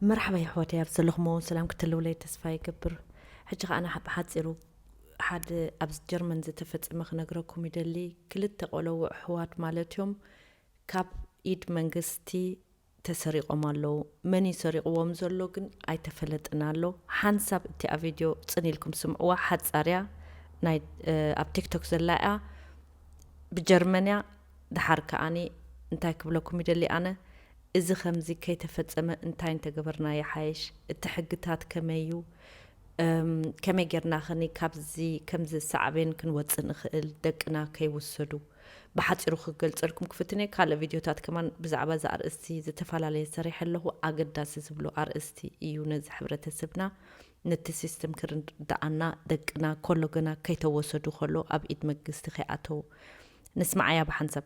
መርሓባ የሕዋተይ ኣብ ዘለኹሞ ሰላም ክትህልውለይ ተስፋ ይገብር ሕጂ ከኣ ኣነ ብሓጺሩ ሓደ ኣብ ጀርመን ዝተፈጸመ ክነግረኩም ይደሊ ክልተ ቆለውዕ ኣሕዋት ማለት እዮም ካብ ኢድ መንግስቲ ተሰሪቆም ኣለው መን እዩ ሰሪቅዎም ዘሎ ግን ኣይተፈለጠን ኣሎ ሓንሳብ እቲኣ ቪድዮ ጽን ኢልኩም ስምዕዋ ሓጻር እያ ናይ ኣብ ቲክቶክ ዘላ እያ ብጀርመን እያ ደሓር ከኣኒ እንታይ ክብለኩም ይደሊ ኣነ እዚ ከምዚ ከይተፈጸመ እንታይ እንተገበርና ይሓይሽ? እቲ ሕግታት ከመይ እዩ? እም ከመይ ጌርና ከኒ ካብዚ ከምዚ ሳዕቤን ክንወጽእ ንኽእል ደቅና ከይውሰዱ? ብሓጺሩ ክገልጸልኩም ክፍትን እየ። ካልእ ቪድዮታት ከማን ብዛዕባ እዚ ኣርእስቲ ዝተፈላለየ ሰሪሐ ኣለኹ። ኣገዳሲ ዝብሎ ኣርእስቲ እዩ ነዚ ሕብረተሰብና ነቲ ሲስተም ክርድኣና ደቅና ኮሎ ገና ከይተወሰዱ ከሎ ኣብ ኢድ መግስቲ ከይኣተዉ ንስምዓያ ብሓንሳብ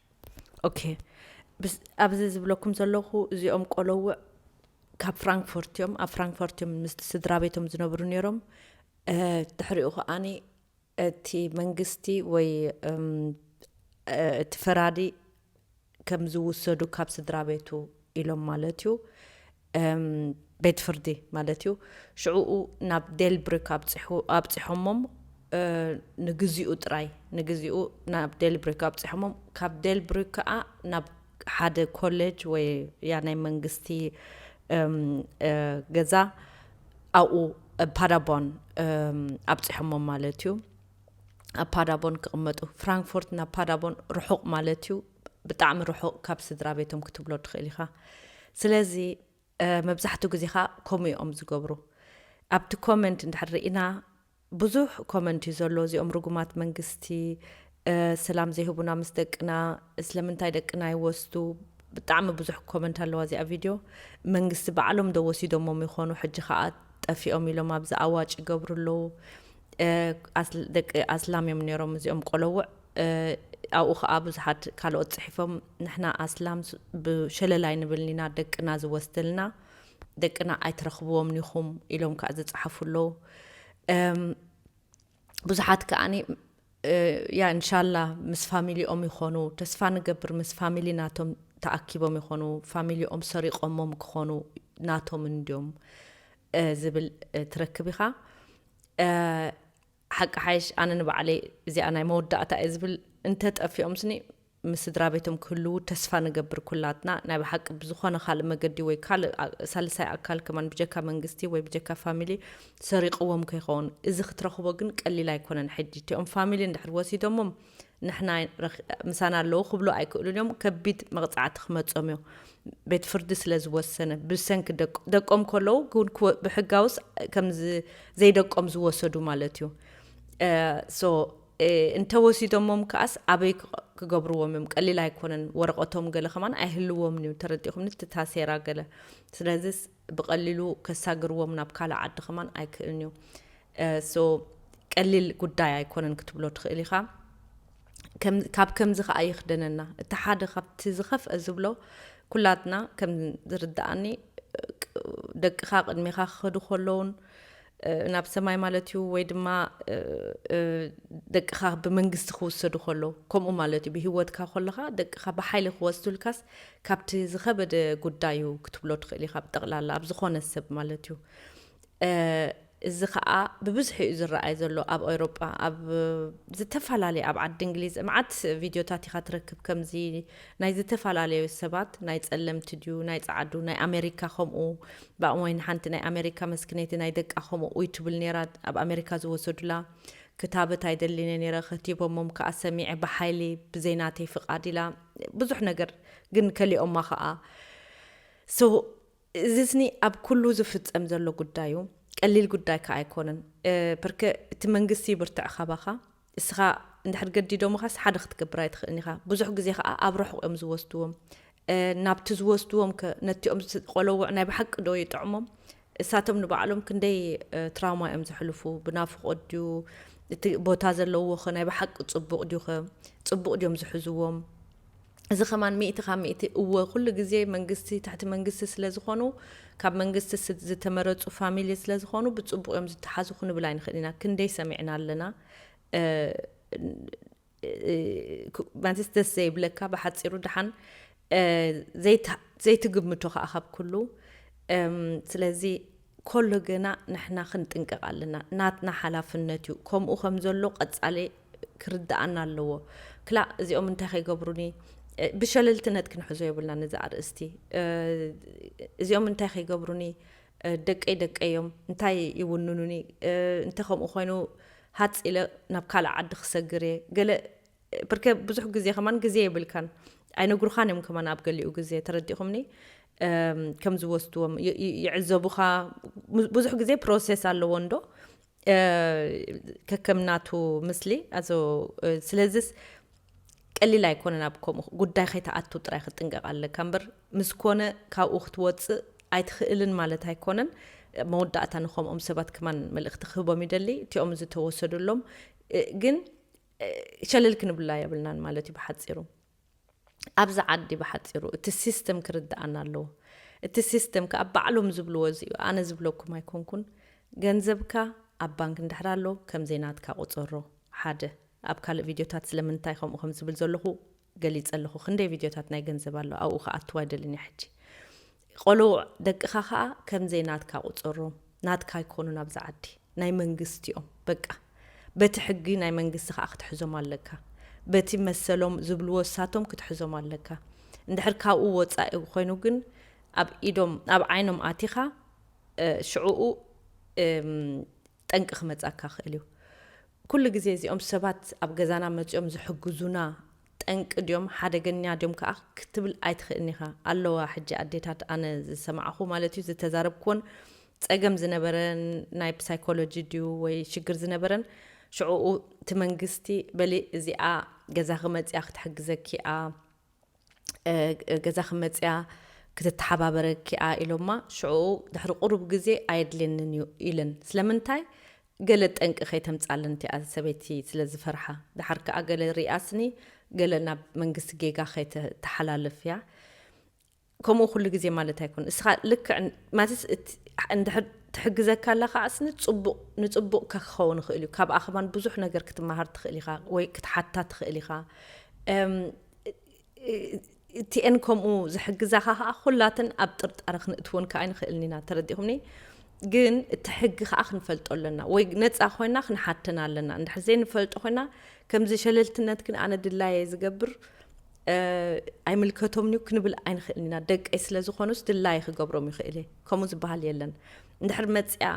ኦኬ ብስ- ኣብዚ ዝብለኩም ዘለኹ እዚኦም ቆለውዕ ካብ ፍራንክፎርት እዮም ኣብ ፍራንክፎርት እዮም ምስ ስድራ ቤቶም ዝነብሩ ነይሮም እ፣ ድሕሪኡ ከዓኒ እቲ መንግስቲ ወይ እም፣ እ፣ እቲ ፈራዲ ከም ዝውሰዱ ካብ ስድራ ቤቱ ኢሎም ማለት እዩ ቤት ፍርዲ ማለት እዩ። ሽዕኡ ናብ ዴልብሪክ ኣብጺሖሞም ንግዚኡ ጥራይ ንግዚኡ ናብ ዴልብሪክ ኣብጺሖሞም ካብ ዴልብሪክ ከኣ ናብ ሓደ ኮሌጅ ወይ ያ ናይ መንግስቲ ገዛ ኣብኡ ፓዳቦን ኣብጺሖሞም ማለት እዩ ኣብ ፓዳቦን ክቕመጡ ፍራንክፎርት ናብ ፓዳቦን ርሑቕ ማለት እዩ ብጣዕሚ ርሑቕ ካብ ስድራ ቤቶም ክትብሎ ትኽእል ኢኻ ስለዚ መብዛሕትኡ ግዜ ኸ ከምኡ እዮም ዝገብሩ ኣብቲ ኮመንት እንድሕር ርኢና ብዙሕ ኮመንት እዩ ዘሎ እዚኦም ርጉማት መንግስቲ ሰላም ዘይህቡና ምስ ደቅና ስለምንታይ ደቅና ይወስዱ ብጣዕሚ ብዙሕ ኮመንት ኣለዋ እዚኣ ቪድዮ መንግስቲ ባዕሎም ዶ ወሲዶሞም ይኾኑ ሕጂ ከዓ ጠፊኦም ኢሎም ኣብዚ ኣዋጭ ይገብሩ ኣለዉ ደቂ ኣስላም እዮም ነይሮም እዚኦም ቆለውዕ ኣብኡ ከኣ ብዙሓት ካልኦት ጽሒፎም ንሕና ኣስላም ብሸለል ኣይንብልን ኢና ደቅና ዝወስደልና ደቅና ኣይትረኽብዎም ኒኹም ኢሎም ከኣ ዝጸሓፉ ኣለዉ ብዙሓት ከኣኒ ያ እንሻላ ምስ ፋሚሊኦም ይኾኑ ተስፋ ንገብር ምስ ፋሚሊ ናቶም ተኣኪቦም ይኾኑ ፋሚሊኦም ሰሪቆሞም ክኾኑ ናቶም እንድዮም ዝብል ትረክብ ኢኻ ሓቂ ሓይሽ ኣነ ንባዕለይ እዚኣ ናይ መወዳእታ እየ ዝብል እንተ ጠፊኦምስኒ ምስ ስድራቤቶም ክህልዉ ተስፋ ንገብር ኩላትና ናይ ብሓቂ ብዝኾነ ካልእ መገዲ ወይ ካልእ ሳልሳይ ኣካል ከማን ብጀካ መንግስቲ ወይ ብጀካ ፋሚሊ ሰሪቅዎም ከይኸውን እዚ ክትረኽቦ ግን ቀሊል ኣይኮነን ሕጂ እቲኦም ፋሚሊ እንድሕር ወሲዶሞም ንሕና ምሳና ኣለዉ ክብሉ ኣይክእሉን እዮም ከቢድ መቕጻዕቲ ክመጾም እዮ ቤት ፍርዲ ስለ ዝወሰነ ብሰንኪ ደቆም ከለዉ ብሕጋውስ ከም ዘይደቆም ዝወሰዱ ማለት እዩ እንተወሲዶሞም ከዓስ ኣበይ ክገብርዎም እዮም ቀሊል ኣይኮነን ወረቐቶም ገለ ከማን ኣይህልዎም እዩ ተረዲኹም ንትታሴራ ገለ ስለዚ ብቀሊሉ ከሳግርዎም ናብ ካልእ ዓዲ ከማን ኣይክእልን እዩ so ቀሊል ጉዳይ ኣይኮነን ክትብሎ ትኽእል ኢኻ ካብ ከምዚ ከዓ ይኽደነና እቲ ሓደ ካብቲ ዝኸፍአ ዝብሎ ኩላትና ከም ዝርድኣኒ ደቅኻ ቅድሜኻ ክኸዱ ከለውን ናብ ሰማይ ማለት እዩ ወይ ድማ ደቅኻ ብመንግስቲ ክውሰዱ ከሎ ከምኡ ማለት እዩ ብሂወትካ ከለኻ ደቅኻ ብሓይሊ ክወስዱልካስ ካብቲ ዝኸበደ ጉዳይ እዩ ክትብሎ ትኽእል ኢኻ ብጠቕላላ ኣብ ዝኾነ ሰብ ማለት እዩ እዚ ከዓ ብብዝሒ እዩ ዝረኣይ ዘሎ ኣብ ኤውሮጳ ኣብ ዝተፈላለየ ኣብ ዓዲ እንግሊዝ መዓት ቪድዮታት ኢኻ ትረክብ ከምዚ ናይ ዝተፈላለዩ ሰባት ናይ ጸለምቲ ድዩ ናይ ጸዓዱ ናይ ኣሜሪካ ከምኡ ብኣእዋይ ንሓንቲ ናይ ኣመሪካ መስኪነይቲ ናይ ደቃ ከምኡ ኡይ ትብል ነይራ ኣብ ኣመሪካ ዝወሰዱላ ክታበት ኣይደልን እየ ነይረ ከቲቦሞም ክኣ ሰሚዐ ብሓይሊ ብዘይ ናተይ ፍቃድ ኢላ ብዙሕ ነገር ግን ከሊኦማ ክኣ so እዚስኒ ኣብ ኩሉ ዝፍጸም ዘሎ ጉዳይ እዩ ቀሊል ጉዳይ ክኣ ኣይኮነን ፐርከ እቲ መንግስቲ ይብርትዕ ካባካ እስኻ እንድሕር ገዲዶምኻስ ሓደ ክትገብር ኣይትኽእልን ኢኻ ብዙሕ ግዜ ኸኣ ኣብ ርሑቕ እዮም ዝወስድዎም ናብቲ ዝወስድዎም ከ ነቲኦም ቆለውዕ ናይ ብሓቂ ዶ ይጥዕሞም እሳቶም ንባዕሎም ክንደይ ትራውማ እዮም ዝሕልፉ ብናፍቆ ድዩ እቲ ቦታ ዘለውዎ ኸ ናይ ብሓቂ ጽቡቕ ድዩ ኸ ጽቡቕ ድዮም ዝሕዝዎም እዚ ከማን ሚእቲ ካብ ሚእቲ እወ ኩሉ ግዜ መንግስቲ ትሕቲ መንግስቲ ስለ ዝኮኑ ካብ መንግስቲ ዝተመረጹ ፋሚሊ ስለ ዝኮኑ ብጽቡቅ እዮም ዝተሓዙ ክንብል ኣይንክእል ኢና ክንደይ ሰሚዕና ኣለና ማለትስ ደስ ዘይብለካ ብሓፂሩ ድሓን ዘይትግምቶ ከዓ ካብ ኩሉ ስለዚ ኮሎ ግና ንሕና ክንጥንቀቅ ኣለና ናትና ሓላፍነት ዩ ከምኡ ከም ዘሎ ቀጻሊ ክርድኣና ኣለዎ ክላእ እዚኦም እንታይ ከይገብሩኒ ብሸለልትነት ክንሕዞ የብልናን እዚ ኣርእስቲ እዚኦም እንታይ ከይገብሩኒ ደቀይ ደቀይ ዮም እንታይ ይውንኑኒ እንተ ከምኡ ኮይኑ ሃጽ ኢለ ናብ ካልእ ዓዲ ክሰግር እየ ገለ ብርከ ብዙሕ ግዜ ከማን ግዜ የብልካን ኣይነግሩኻን እዮም ከማን ኣብ ገሊኡ ግዜ ተረዲኹምኒ ከም ዝወስድዎም ይዕዘቡኻ ብዙሕ ግዜ ፕሮሴስ ኣለዎ እንዶ ከከምናቱ ምስሊ ኣዞ ስለዚስ ቀሊል ኣይኮነን ኣብ ከምኡ ጉዳይ ከይተኣቱ ጥራይ ክትጥንቀቕ ኣለካ እምበር ምስ ኮነ ካብኡ ክትወፅእ ኣይትኽእልን ማለት ኣይኮነን መወዳእታ ንከምኦም ሰባት ክማን መልእኽቲ ክህቦም ይደሊ እቲኦም ዝተወሰዱሎም ግን ሸለል ክንብላ የብልናን ማለት እዩ ብሓጺሩ። ኣብዚ ዓዲ ብሓጺሩ እቲ ሲስተም ክርድኣና ኣለዎ። እቲ ሲስተም ከኣ ባዕሎም ዝብልዎ እዚ እዩ፣ ኣነ ዝብለኩም ኣይኮንኩን። ገንዘብካ ኣብ ባንክ እንድሕር ኣሎ ከም ዘይናትካ ቁጸሮ፣ ሓደ። ኣብ ካልእ ቪድዮታት ስለምንታይ ከምኡ ከም ዝብል ዘለኹ ገሊጸ ኣለኹ ክንደይ ቪድዮታት ናይ ገንዘብ ኣሎ ኣብኡ ክኣትው ኣይደልን እየ ሕጂ ቆልውዕ ደቅኻ ከኣ ከምዘይ ናትካ ቁጸሮም ናትካ ኣይኮኑን ኣብዚ ዓዲ ናይ መንግስቲ እዮም በቃ በቲ ሕጊ ናይ መንግስቲ ከኣ ክትሕዞም ኣለካ በቲ መሰሎም ዝብልዎ እሳቶም ክትሕዞም ኣለካ እንድሕር ካብኡ ወጻኢ ኮይኑ ግን ኣብ ኢዶም ኣብ ዓይኖም ኣቲኻ ሽዕኡ ጠንቂ ክመጻካ ክእል እዩ ኩሉ ግዜ እዚኦም ሰባት ኣብ ገዛና መጺኦም ዝሕግዙና ጠንቂ ድዮም ሓደገኛ ድዮም ከኣ ክትብል ኣይትክእልን ኢካ ኣለዋ ሕጂ ኣዴታት ኣነ ዝሰማዕኩ ማለት እዩ ዝተዛረብክዎን ጸገም ዝነበረን ናይ ብሳይኮሎጂ ድዩ ወይ ሽግር ዝነበረን ሽዑኡ እቲ መንግስቲ በሊ እዚኣ ገዛኺ መጺኣ ክትሕግዘኪ እያ ገዛኺ መጺኣ ክትተሓባበረኪ'ያ ኢሎማ፣ ሽዑኡ ድሕሪ ቁሩብ ግዜ ኣየድልየንን'ዩ ኢለን። ስለምንታይ? ገለ ጠንቂ ከይተምጻለን እቲኣ ሰበይቲ ስለ ዝፈርሓ። ደሓር ከኣ ገለ ሪኣ ስኒ ገለ ናብ መንግስቲ ጌጋ ከይተተሓላልፍ'ያ። ከምኡ ኩሉ ግዜ ማለት ኣይኮነን። እስኻ ልክዕ ማለትስ እንድሕር ትሕግዘካ ኣላ ከኣ ስኒ ጽቡቕ ንጽቡቕ ከክኸውን ይኽእል'ዩ። ካብኣ ከማን ብዙሕ ነገር ክትመሃር ትኽእል ኢኻ ወይ ክትሓታ ትኽእል ኢኻ። እቲኤን ከምኡ ዝሕግዛኻ ከዓ ኩላትን ኣብ ጥርጣረ ክንእትወን ከዓ ኣይንኽእልን ኢና ተረዲኹምኒ ግን እቲ ሕጊ ከዓ ክንፈልጦ ኣለና ወይ ነፃ ኮይና ክንሓተና ኣለና እንድሕር ዘይንፈልጦ ኮይና ከምዚ ሸለልትነት ግን ኣነ ድላየ ዝገብር ኣይምልከቶምን እዩ ክንብል ኣይንኽእልን ኢና ደቀይ ስለ ዝኾኑስ ድላየ ክገብሮም ይኽእል እየ ከምኡ ዝበሃል የለን እንድሕር መፅያ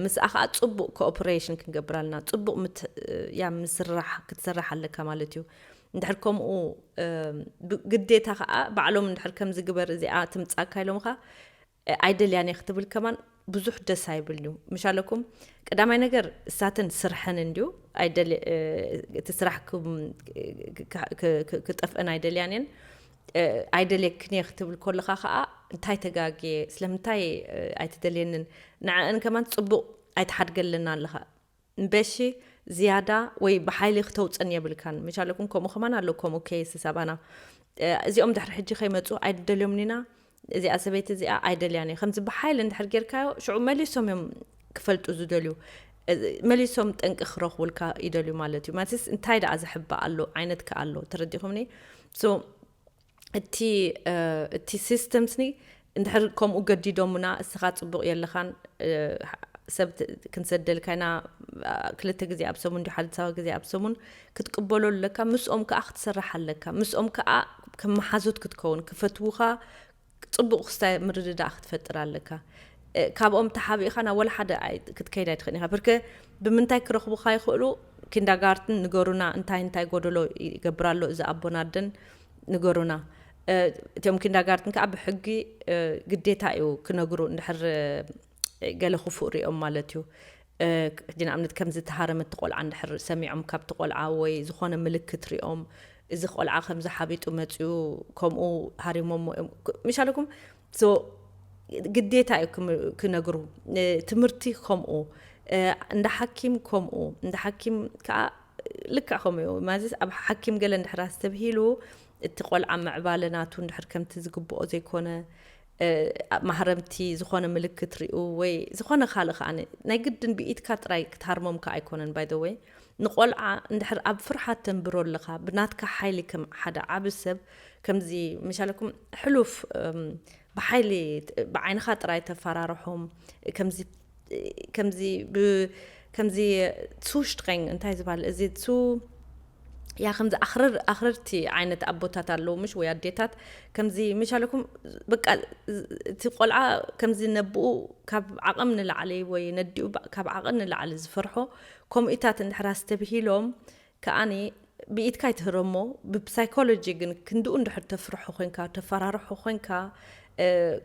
ምስኣ ከዓ ፅቡቅ ኮኦፕሬሽን ክንገብር ኣለና ፅቡቅ ያ ምስራሕ ክትስራሕ ኣለካ ማለት እዩ እንድሕር ከምኡ ብግዴታ ከኣ ባዕሎም እንድሕር ከምዚ ግበር እዚኣ ትምጻካ ኢሎምካ ኣይደልያን እየ ክትብል ከማን ብዙሕ ደስ ኣይብል እዩ ምሻለኩም ቀዳማይ ነገር እሳትን ስርሐን እንድዩ እቲ ስራሕ ክጠፍአን ኣይደልያን እየን ኣይደልየክን እየ ክትብል ከለካ ከዓ እንታይ ተጋግየ ስለምንታይ ኣይትደልየንን ንዕአን ከማን ፅቡቅ ኣይትሓድገለና ኣለካ እምበሺ ዝያዳ ወይ ብሓይሊ ክተውጽን የብልካን ምቻለኩም ከምኡ ከማን ኣሎ ከምኡ ኬስ ሰባና እዚኦም ድሕሪ ሕጂ ከይመጹ ኣይደልዮምኒና እዚኣ ሰበይቲ እዚኣ ኣይደልያን እየ ከምዚ ብሓይሊ እንድሕር ጌርካዮ ሽዑ መሊሶም እዮም ክፈልጡ ዝደልዩ መሊሶም ጠንቂ ክረኽቡልካ ይደልዩ ማለት እዩ ማለትስ እንታይ ደኣ ዝሕባእ ኣሎ ዓይነት ከ ኣሎ ተረዲኹምኒ እቲ እቲ ሲስተም ስኒ እንድሕር ከምኡ ገዲዶሙና እስኻ ጽቡቕ የለኻን ሰብ ክንሰደልካ ኢና ክልተ ግዜ ኣብ ሰሙን ዲ ሓደ ሳባ ግዜ ኣብ ሰሙን ክትቅበሎ ኣለካ ምስኦም ከዓ ክትሰርሕ ኣለካ ምስኦም ከዓ ከም መሓዙት ክትከውን ክፈትውኻ ጽቡቕ ክስታይ ምርድዳእ ክትፈጥር ኣለካ ካብኦም ተሓቢእኻ ናብ ወላ ሓደ ክትከይድ ኣይትኽእል ኢኻ ብርከ ብምንታይ ክረኽቡኻ ይኽእሉ ኪንዳጋርትን ንገሩና እንታይ እንታይ ጎደሎ ይገብር ኣሎ እዚ ኣቦን ኣደን ንገሩና እቲኦም ኪንዳጋርትን ከዓ ብሕጊ ግዴታ እዩ ክነግሩ እንድሕር ገለ ክፉእ ሪኦም ማለት እዩ ሕጂ ንኣብነት ከም ዝተሃረመት ቆልዓ እንድሕር ሰሚዖም ካብቲ ቆልዓ ወይ ዝኾነ ምልክት ሪኦም እዚ ቆልዓ ከምዚ ሓቢጡ መፅኡ ከምኡ ሃሪሞሞ እዮም ምሻለኩም ግዴታ እዩ ክነግሩ ትምህርቲ ከምኡ እንዳ ሓኪም ከምኡ እንዳ ሓኪም ከዓ ልክዕ ከምኡ እዩ ማለትስ ኣብ ሓኪም ገለ እንድሕር ኣስተብሂሉ እቲ ቆልዓ ምዕባለ ናቱ እንድሕር ከምቲ ዝግብኦ ዘይኮነ ማህረምቲ ዝኾነ ምልክት ሪኡ ወይ ዝኾነ ካልእ ከዓ ናይ ግድን ብኢትካ ጥራይ ክትሃርሞም ከዓ ኣይኮነን ባይ ዘ ወይ ንቆልዓ እንድሕር ኣብ ፍርሓት ተንብሮ ኣለኻ ብናትካ ሓይሊ ከም ሓደ ዓብ ሰብ ከምዚ መሻለኩም ሕሉፍ ብሓይሊ ብዓይንኻ ጥራይ ተፈራርሖም ከምዚ ከምዚ ብ ከምዚ ቱ ሽትረንግ እንታይ ዝባል እዚ ቱ ያ ከምዚ ኣኽርር ኣኽርርቲ ዓይነት ኣቦታት ኣለዉ ምሽ ወይ ኣዴታት ከምዚ ምሽ ኣለኩም በቃ እቲ ቆልዓ ከምዚ ነብኡ ካብ ዓቕም ንላዕሊ ወይ ነዲኡ ካብ ዓቕን ንላዕሊ ዝፈርሖ ከምኡታት እንድሕር ኣስተብሂሎም ከኣኒ ብኢድካ ኣይትህረሞ ብፕሳይኮሎጂ ግን ክንድኡ እንድሕር ተፍርሖ ኮንካ ተፈራርሖ ኮንካ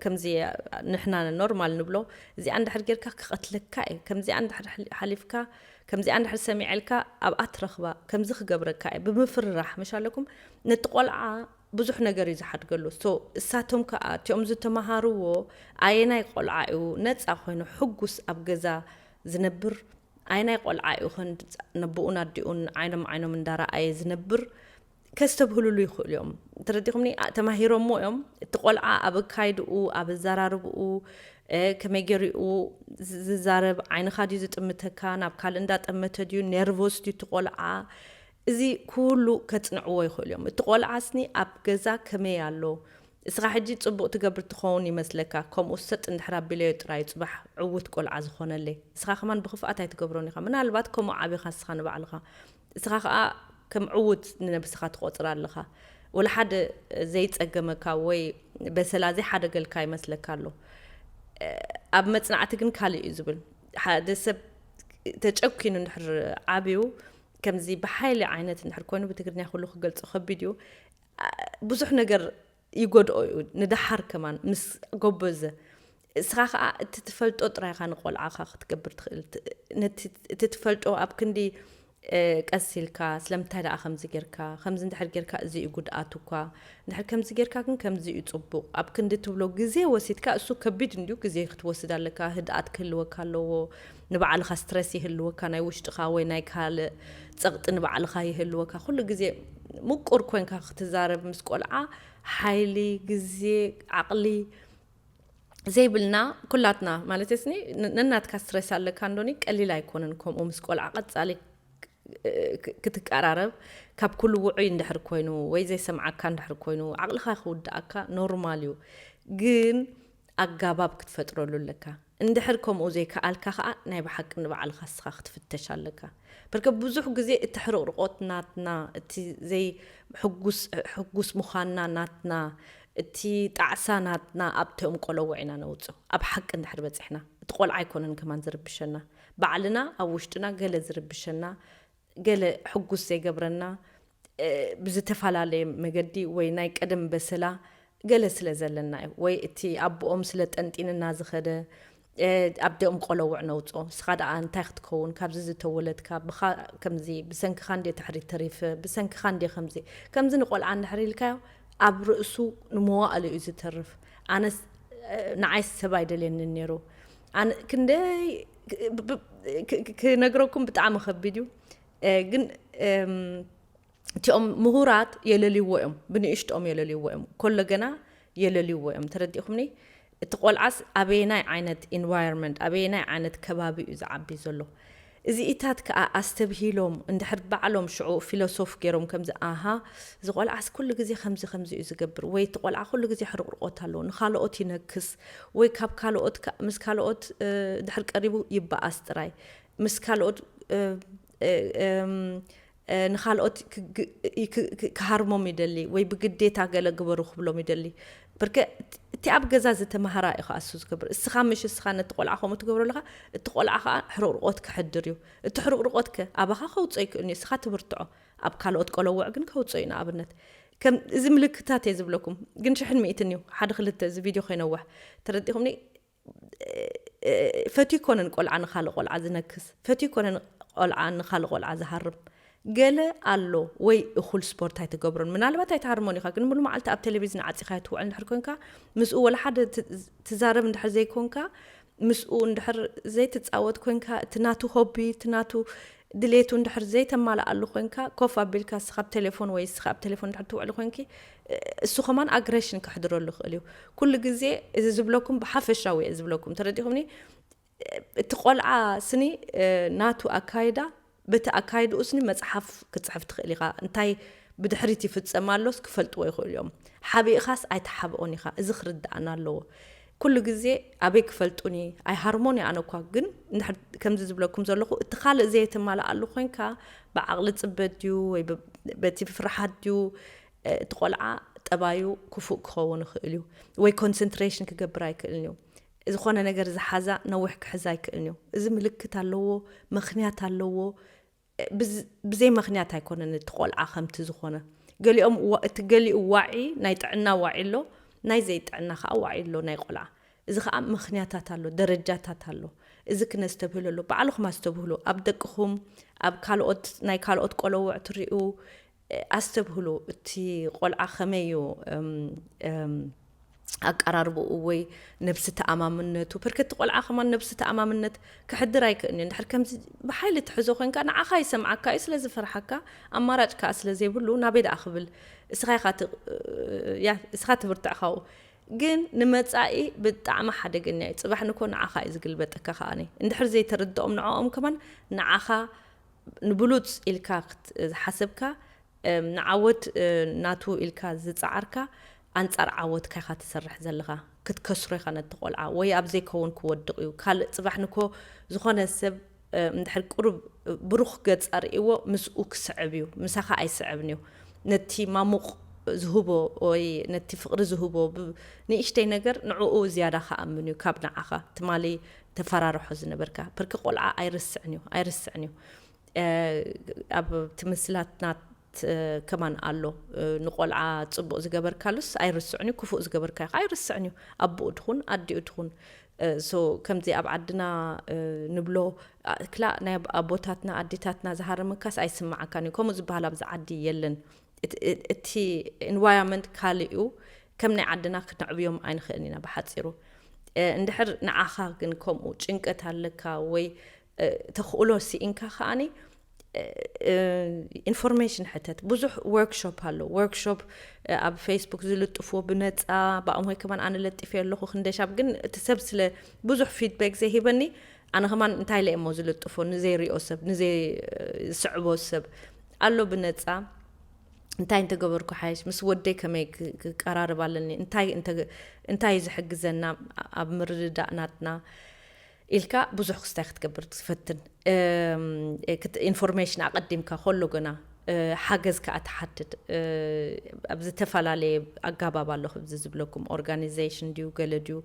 ከምዚ ንሕና ኖርማል ንብሎ እዚኣ እንድሕር ጌርካ ክቐትለካ እየ ከምዚኣ እንድሕር ሓሊፍካ ከምዚኣ እንድሕር ሰሚዐልካ ኣብኣ ትረኽባ ከምዚ ክገብረካ እየ ብምፍርራሕ መሻለኩም ነቲ ቆልዓ ብዙሕ ነገር እዩ ዝሓድገሉ ሶ እሳቶም ከዓ እቲኦም ዝተምሃርዎ ኣየናይ ቆልዓ እዩ ነፃ ኮይኑ ሕጉስ ኣብ ገዛ ዝነብር ኣይናይ ቆልዓ እዩ ከንድፃ ነቦኡን ኣዲኡን ዓይኖም ዓይኖም እንዳረኣየ ዝነብር ከስተብህሉሉ ይኽእሉ እዮም ተረዲኹምኒ ተማሂሮሞ እዮም እቲ ቆልዓ ኣብ ኣካይድኡ ኣብ ኣዘራርብኡ ከመይ ገሪኡ ዝዛረብ ዓይንኻ ድዩ ዝጥምተካ ናብ ካልእ እንዳጠመተ ድዩ ኔርቮስ ድዩ እቲ ቆልዓ እዚ ኩሉ ከፅንዕዎ ይኽእሉ እዮም እቲ ቆልዓ ስኒ ኣብ ገዛ ከመይ ኣሎ እስኻ ሕጂ ጽቡቅ ትገብር ትኸውን ይመስለካ ከምኡ ሰጥ እንድሕር ኣቢለዮ ጥራይ እዩ ጽባሕ ዕውት ቆልዓ ዝኾነለይ እስኻ ከማን ብኽፍኣት ኣይትገብሮን ኢኻ ምናልባት ከምኡ ዓቢኻ እስኻ ንባዕልኻ እስኻ ከኣ ከም ዕውት ንነብስኻ ትቆጽራ ኣለኻ ወላ ሓደ ዘይጸገመካ ወይ በሰላ ዘይሓደገልካ ይመስለካ ኣሎ ኣብ መጽናዕቲ ግን ካልእ እዩ ዝብል ሓደ ሰብ ተጨኪኑ እንድሕር ዓብዩ ከምዚ ብሓይሊ ዓይነት እንድሕር ኮይኑ ብትግርኛ ኩሉ ክገልጾ ከቢድ እዩ ብዙሕ ነገር ይጎድኦ እዩ ንደሓር ከማን ምስ ጎበዘ እስኻ ከዓ እቲ ትፈልጦ ጥራይ ኢኻ ንቆልዓኻ ክትገብር ትኽእል ነቲ እቲ ትፈልጦ ኣብ ክንዲ ቀስ ኢልካ ስለምንታይ ደኣ ከምዚ ጌርካ ከምዚ እንድሕር ጌርካ እዚ እዩ ጉድኣቱ እኳ እንድሕር ከምዚ ጌርካ ግን ከምዚ እዩ ፅቡቕ ኣብ ክንዲ ትብሎ ግዜ ወሲድካ እሱ ከቢድ እንድዩ ግዜ ክትወስድ ኣለካ ህድኣት ክህልወካ ኣለዎ ንባዕልኻ ስትረስ ይህልወካ ናይ ውሽጥኻ ወይ ናይ ካልእ ጸቕጢ ንባዕልኻ ይህልወካ ኩሉ ግዜ ምቁር ኮንካ ክትዛረብ ምስ ቆልዓ ሓይሊ ግዜ ዓቕሊ ዘይብልና ኩላትና ማለት ስኒ ነናትካ ስትረስ ኣለካ እንዶኒ ቀሊል ኣይኮነን ከምኡ ምስ ቆልዓ ቀጻሊ ክትቀራረብ ካብ ኩሉ ውዑይ እንድሕር ኮይኑ ወይ ዘይሰምዓካ እንድሕር ኮይኑ ዓቕልኻ ክውድኣካ ኖርማል እዩ ግን ኣጋባብ ክትፈጥረሉ ኣለካ እንድሕር ከምኡ ዘይከኣልካ ከኣ ናይ ብሓቂ ንባዕልኻ እስኻ ክትፍተሽ ኣለካ በርከ ብዙሕ ግዜ እቲ ሕርቕርቖት ናትና እቲ ዘይ ሕጉስ ሕጉስ ምዃንና ናትና እቲ ጣዕሳ ናትና ኣብቲ እንቆለውዕ ኢና ነውጽኦ ኣብ ሓቂ እንድሕር በጺሕና እቲ ቆልዓ ኣይኮነን ከማን ዝርብሸና ባዕልና ኣብ ውሽጥና ገለ ዝርብሸና ገለ ሕጉስ ዘይገብረና ብዝተፈላለየ መገዲ ወይ ናይ ቀደም በሰላ ገለ ስለ ዘለና እዩ ወይ እቲ ኣቦኦም ስለ ጠንጢንና ዝኸደ ኣብ ደም ቆለውዕ ነውጾ ስኻ ደኣ እንታይ ክትከውን ካብዚ ዝተወለድካ ብኻ ከምዚ ብሰንክኻ እንዴ ትሕሪ ተሪፈ ብሰንክኻ እንዴ ከምዚ ከምዚ ንቆልዓ እንድሕር ኢልካዮ ኣብ ርእሱ ንመዋእሉ እዩ ዝተርፍ ኣነስ ንዓይስ ሰብ ኣይደልየንን ነይሩ ኣነ ክንደይ ክነግረኩም ብጣዕሚ ከቢድ እዩ ግን እቲኦም ምሁራት የለልይዎ እዮም ብንእሽትኦም የለልይዎ እዮም ኮሎ ገና የለልይዎ እዮም ተረዲእኹምኒ እቲ ቆልዓስ ኣበየናይ ዓይነት ኢንቫይሮንመንት ኣበየናይ ዓይነት ከባቢ እዩ ዝዓቢ ዘሎ እዚኢታት ከኣ ኣስተብሂሎም እንድሕር ባዕሎም ሽዑ ፊሎሶፍ ገይሮም ከምዚ ኣሃ እዚ ቆልዓስ ኩሉ ግዜ ከምዚ ከምዚ እዩ ዝገብር ወይ እቲ ቆልዓ ኩሉ ግዜ ሕርቁርቆት ኣለዎ ንኻልኦት ይነክስ ወይ ካብ ካልኦት ምስ ካልኦት ድሕር ቀሪቡ ይበኣስ ጥራይ ምስ ካልኦት ንኻልኦት ክሃርሞም ይደሊ ወይ ብግዴታ ገለ ግበሩ ክብሎም ይደሊ ብርከ እቲ ኣብ ገዛ ዝተማሃራ እዩ ከኣ እሱ ዝገብር እስኻ ምሽ እስኻ ነቲ ቆልዓ ከምኡ ትገብሮ ኣለኻ እቲ ቆልዓ ከኣ ሕርቕርቆት ክሕድር እዩ እቲ ሕርቕርቆት ከ ኣባኻ ከውጽኦ ይክእል እዩ እስኻ ትብርትዖ ኣብ ካልኦት ቆለውዕ ግን ከውጽኦ እዩ ንኣብነት ከም እዚ ምልክታት እየ ዝብለኩም ግን ሽሕን ሚእትን እዩ ሓደ ክልተ እዚ ቪድዮ ከይነውሕ ተረዲኹምኒ ፈትዩ ኣይኮነን ቆልዓ ንኻልእ ቆልዓ ዝነክስ፣ ፈትዩ ኣይኮነን ቆልዓ ንኻልእ ቆልዓ ዝሃርም። ገለ ኣሎ ወይ እኹል ስፖርት ኣይትገብሮን፣ ምናልባት ኣይትሃርሞን ኢኻ፣ ግን ሙሉ መዓልቲ ኣብ ቴሌቪዝን ዓጺኻዮ ትውዕል እንድሕር ኮንካ፣ ምስኡ ወላ ሓደ ትዛረብ እንድሕር ዘይኮንካ፣ ምስኡ እንድሕር ዘይትጻወት ኮንካ፣ እቲ ናቱ ሆቢ እቲ ናቱ ድሌቱ እንድሕር ዘይተማልኣሉ ኮንካ፣ ኮፍ ኣቢልካ እስኻ ኣብ ቴሌፎን ወይ እስኻ ኣብ ቴሌፎን እንድሕር ትውዕሊ ኮንኪ፣ እሱ ከማን ኣግረሽን ከሕድረሉ ይኽእል እዩ ኩሉ ግዜ እዚ ዝብለኩም ብሓፈሻዊ እየ ዝብለኩም ተረዲኹምኒ እቲ ቆልዓ ስኒ ናቱ ኣካይዳ በቲ ኣካይድኡ ስኒ መፅሓፍ ክፅሕፍ ትኽእል ኢኻ እንታይ ብድሕሪት ይፍፀም ኣሎስ ክፈልጥዎ ይኽእሉ እዮም ሓቢእኻስ ኣይተሓብኦን ኢኻ እዚ ክርድኣና ኣለዎ ኩሉ ግዜ ኣበይ ክፈልጡኒ ኣይሃርሞን ኣነ እኳ ግን እንድሕር ከምዚ ዝብለኩም ዘለኹ እቲ ካልእ ዘየተማልኣሉ ኮንካ ብዓቕሊ ፅበት ድዩ ወይ በቲ ፍርሓት ድዩ እቲ ቆልዓ ጠባዩ ክፉእ ክኸውን ይኽእል እዩ ወይ ኮንሰንትሬሽን ክገብር ኣይክእልን እዩ ዝኾነ ነገር ዝሓዛ ነዊሕ ክሕዛ ኣይክእልን እዩ እዚ ምልክት ኣለዎ ምክንያት ኣለዎ ብዘይ መኽንያት ኣይኮነን እቲ ቆልዓ ከምቲ ዝኾነ ገሊኦም እቲ ገሊኡ ዋዒ ናይ ጥዕና ዋዒ ኣሎ ናይ ዘይጥዕና ከዓ ዋዒ ኣሎ ናይ ቆልዓ እዚ ከዓ መኽንያታት ኣሎ ደረጃታት ኣሎ እዚ ክነስተብህሎ ኣሎ ባዕልኹም ኣስተብህሉ ኣብ ደቅኹም ኣብ ካልኦት ናይ ካልኦት ቆለውዕ ትሪኡ ኣስተብህሉ እቲ ቆልዓ ከመይ እዩ ኣቀራርብኡ ወይ ነብሲ ተኣማምነቱ ፐርከ እቲ ቆልዓ ከማን ነብሲ ተኣማምነት ክሕድር ኣይክእልን እዩ እንድሕር ከምዚ ብሓይሊ ትሕዞ ኮንካ ንዓኻ ይሰምዓካ እዩ ስለዝፈርሓካ ኣማራጭ ከዓ ስለዘይብሉ ናበይ ደኣ ክብል እስኻ እስኻ ትብርትዕ ካብኡ ግን ንመጻኢ ብጣዕሚ ሓደገኛ እዩ ጽባሕ ንኮ ንዓኻ እዩ ዝግልበጠካ ከዓኒ እንድሕር ዘይተርድኦም ንዕኦም ከማን ንዓኻ ንብሉጽ ኢልካ ዝሓሰብካ፣ ንዓወት ናቱ ኢልካ ዝጸዓርካ፣ ኣንጻር ዓወትካ ኢኻ ትሰርሕ ዘለኻ። ክትከስሮ ኢኻ ነቲ ቆልዓ፣ ወይ ኣብ ዘይከውን ክወድቕ እዩ። ካልእ ጽባሕ ንኮ ዝኾነ ሰብ እንድሕር ቁሩብ ብሩኽ ገጽ ኣርእይዎ ምስኡ ክስዕብ እዩ፣ ምሳኻ ኣይስዕብን እዩ። ነቲ ማሙቕ ዝህቦ ወይ ነቲ ፍቕሪ ዝህቦ ንእሽተይ ነገር ንዕኡ ዝያዳ ክኣምን እዩ ካብ ንዓኻ። ትማሊ ተፈራርሖ ዝነበርካ ብርኪ ቆልዓ ኣይርስዕን እዩ ኣይርስዕን እዩ ኣብ ትምስላትና ከማን ኣሎ ንቆልዓ ፅቡቅ ዝገበርካሉስ ኣይርስዕን እዩ ክፉእ ዝገበርካ ይኸ ኣይርስዕን እዩ ኣቦኡ ትኹን ኣዲኡ ትኹን ሶ ከምዚ ኣብ ዓድና ንብሎ ክላ ናይ ኣቦታትና ኣዴታትና ዝሃረመካስ ኣይስማዓካን እዩ ከምኡ ዝበሃል ኣብዚ ዓዲ የለን እቲ ኢንቫይሮመንት ካልእ እዩ ከም ናይ ዓድና ክነዕብዮም ኣይንኽእልን ኢና ብሓጺሩ እንድሕር ንዓኻ ግን ከምኡ ጭንቀት ኣለካ ወይ ተኽእሎ ስኢንካ ከኣኒ ኢንፎርሜሽን ሕተት ብዙሕ ወርክሾፕ ኣሎ ወርክሾፕ ኣብ ፌስቡክ ዝልጥፍዎ ብነፃ ብኣምሆይ ከማን ኣነ ለጢፈ ኣለኹ ክንደሻብ ግን እቲ ሰብ ስለ ብዙሕ ፊድባክ ዘይሂበኒ ኣነ ከማን እንታይ ኢለ እሞ ዝልጥፎ ንዘይሪኦ ሰብ ንዘይስዕቦ ሰብ ኣሎ ብነፃ እንታይ እንተገበርኩ ሓይሽ ምስ ወደይ ከመይ ክቀራርብ ኣለኒ እንታይ እዩ ዝሕግዘና ኣብ ምርድዳእ ናትና ኢልካ ብዙሕ ክስታይ ክትገብር ትፈትን ኢንፎርሜሽን ኣቐዲምካ ከሎ ገና ሓገዝ ከዓ ትሓትት ኣብ ዝተፈላለየ ኣጋባብ ኣሎ ክዚ ዝብለኩም ኦርጋኒዜሽን ድዩ ገለ ድዩ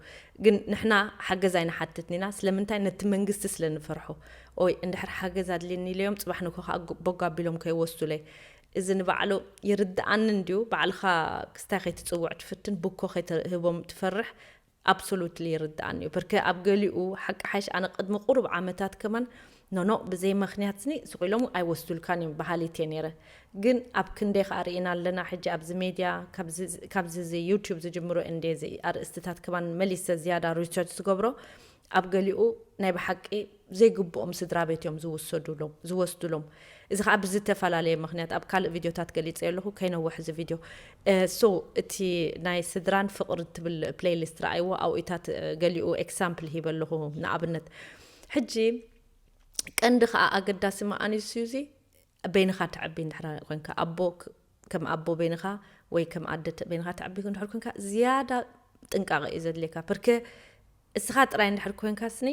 ግን ንሕና ሓገዝ ኣይንሓትትን ኢና ስለምንታይ ነቲ መንግስቲ ስለ ንፈርሖ ኦይ እንድሕር ሓገዝ ኣድልየኒ ኢለዮም ጽባሕ ንግሆ ከኣ ቦግ ኣቢሎም ከይወስዱለይ እዚ ንባዕሉ ይርድኣኒ እንድዩ ባዕልኻ ክስታይ ከይትጽውዕ ትፍትን ቡኮ ከይትህቦም ትፈርሕ Absolutely ይርድኣኒ እዩ በርከ ኣብ ገሊኡ ሓቂ ሓይሽ ኣነ ቅድሚ ቁሩብ ዓመታት ከማን ኖኖ ብዘይ መክንያት ስኒ ሱቅ ኢሎም ኣይወስዱልካን እዮም በሃሊት እየ ነይረ ግን ኣብ ክንደይ ከኣ ሪኢና ኣለና ሕጂ ኣብዚ ሜድያ ካብዚ እዚ ዩቱብ ዝጅምሮ እንድየ እዚ ኣርእስትታት ከማን መሊሰ ዝያዳ ሪሰርች ዝገብሮ ኣብ ገሊኡ ናይ በሓቂ ዘይግብኦም ስድራቤት እዮም ዝውሰዱሎም ዝወስዱሎም እዚ ከኣ ብዝተፈላለየ መክንያት ኣብ ካልእ ቪድዮታት ገሊጸዮ ኣለኹ ከይነውሕ እዚ ቪድዮ ሶ እቲ ናይ ስድራን ፍቅሪ ትብል ፕሌይሊስት ረኣይዎ ኣብኡታት ገሊኡ ኤክሳምፕል ሂበ ኣለኹ ንኣብነት ሕጂ ቀንዲ ከኣ ኣገዳሲ መኣንዩ ስዩዚ በይንኻ ተዕቢ እንድሕር ኮንካ ኣቦ ከም ኣቦ በይንኻ ወይ ከም ኣደ በይንኻ ተዕቢ እንድሕር ኮንካ ዝያዳ ጥንቃቐ እዩ ዘድልየካ ፕርከ እስኻ ጥራይ እንድሕር ኮንካስኒ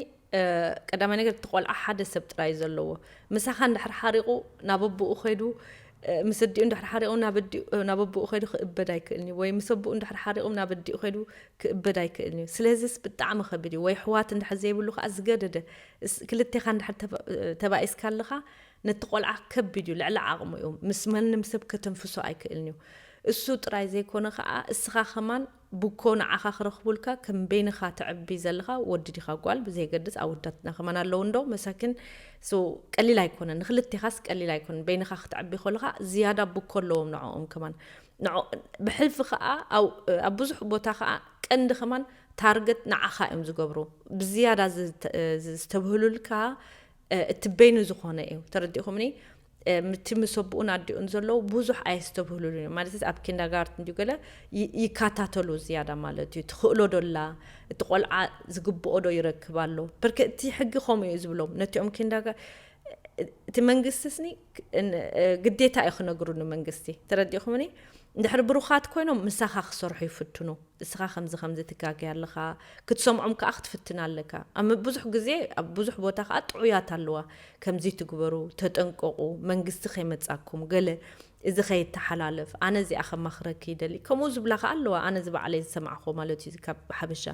ቀዳማይ ነገር እቲ ቆልዓ ሓደ ሰብ ጥራይ ዘለዎ ምሳኻ እንድሕር ሓሪቑ ናብ ኣቦኡ ከይዱ ምስ እዲኡ እንድሕር ሓሪቑ ናብ ኣቦኡ ከይዱ ክእበድ ኣይክእልን እዩ ወይ ምስ ኣቦኡ እንድሕር ሓሪቑ ናብ እዲኡ ከይዱ ክእበድ ኣይክእልን እዩ ስለዚስ ብጣዕሚ ከቢድ እዩ ወይ ኣሕዋት እንድሕር ዘይብሉ ከዓ ዝገደደ ክልቴኻ እንድሕር ተባኢስካ ኣለኻ ነቲ ቆልዓ ከቢድ እዩ ልዕሊ ዓቕሙ እዩ ምስ ማንም ሰብ ከተንፍሶ ኣይክእልን እዩ እሱ ጥራይ ዘይኮነ ከዓ እስኻ ከማን ቡኮ ንዓኻ ክረኽቡልካ ከም በይንኻ ተዕቢ ዘለኻ ወዲ ዲኻ ጓል ብዘየገድስ ኣወዳትና ከማን ኣለዉ እንዶ መሳኪን so ቀሊል ኣይኮነን ንኽልቴኻስ ቀሊል ኣይኮነን በይንኻ ክትዕቢ ኮለኻ ዝያዳ ቡኮ ኣለዎም ንዕኦም ከማን ንዕ ብሕልፊ ከኣ ኣብ ኣብ ብዙሕ ቦታ ከኣ ቀንዲ ከማን ታርገት ንዓኻ እዮም ዝገብሩ ብዝያዳ ዝተብህሉልካ እቲ በይኑ ዝኾነ እዩ ተረዲእኹምኒ እቲ ምስ ኣቦኡን ኣዲኡን ዘለዉ ብዙሕ ኣየስተብህሉሉን እዮም ማለት ኣብ ኪንዳጋርትን ድዩ ገለ ይካታተሉ ዝያዳ ማለት እዩ ትኽእሎ ዶላ እቲ ቆልዓ ዝግብኦ ዶ ይረክብ ኣሎ ብርክ እቲ ሕጊ ከምኡ እዩ ዝብሎም ነቲኦም ኪንዳጋ እቲ መንግስትስኒ ግዴታ እዩ ክነግሩ ንመንግስቲ ተረዲኹምኒ ድሕሪ ብሩኻት ኮይኖም ምሳኻ ክሰርሑ ይፍትኑ እስኻ ከምዚ ከምዚ ትጋገ ኣለኻ፣ ክትሰምዖም ከኣ ክትፍትን ኣለካ። ኣብ ብዙሕ ግዜ ኣብ ብዙሕ ቦታ ከኣ ጥዑያት ኣለዋ፣ ከምዚ ትግበሩ፣ ተጠንቀቑ፣ መንግስቲ ከይመጻኩም፣ ገለ እዚ ከይተሓላለፍ፣ ኣነ እዚኣ ከማኽረኪ ይደሊ፣ ከምኡ ዝብላ ከኣ ኣለዋ፣ ኣነ እዚ ባዕለይ ዝሰማዕክዎ ማለት እዩ፣ እዚ ካብ ሓበሻ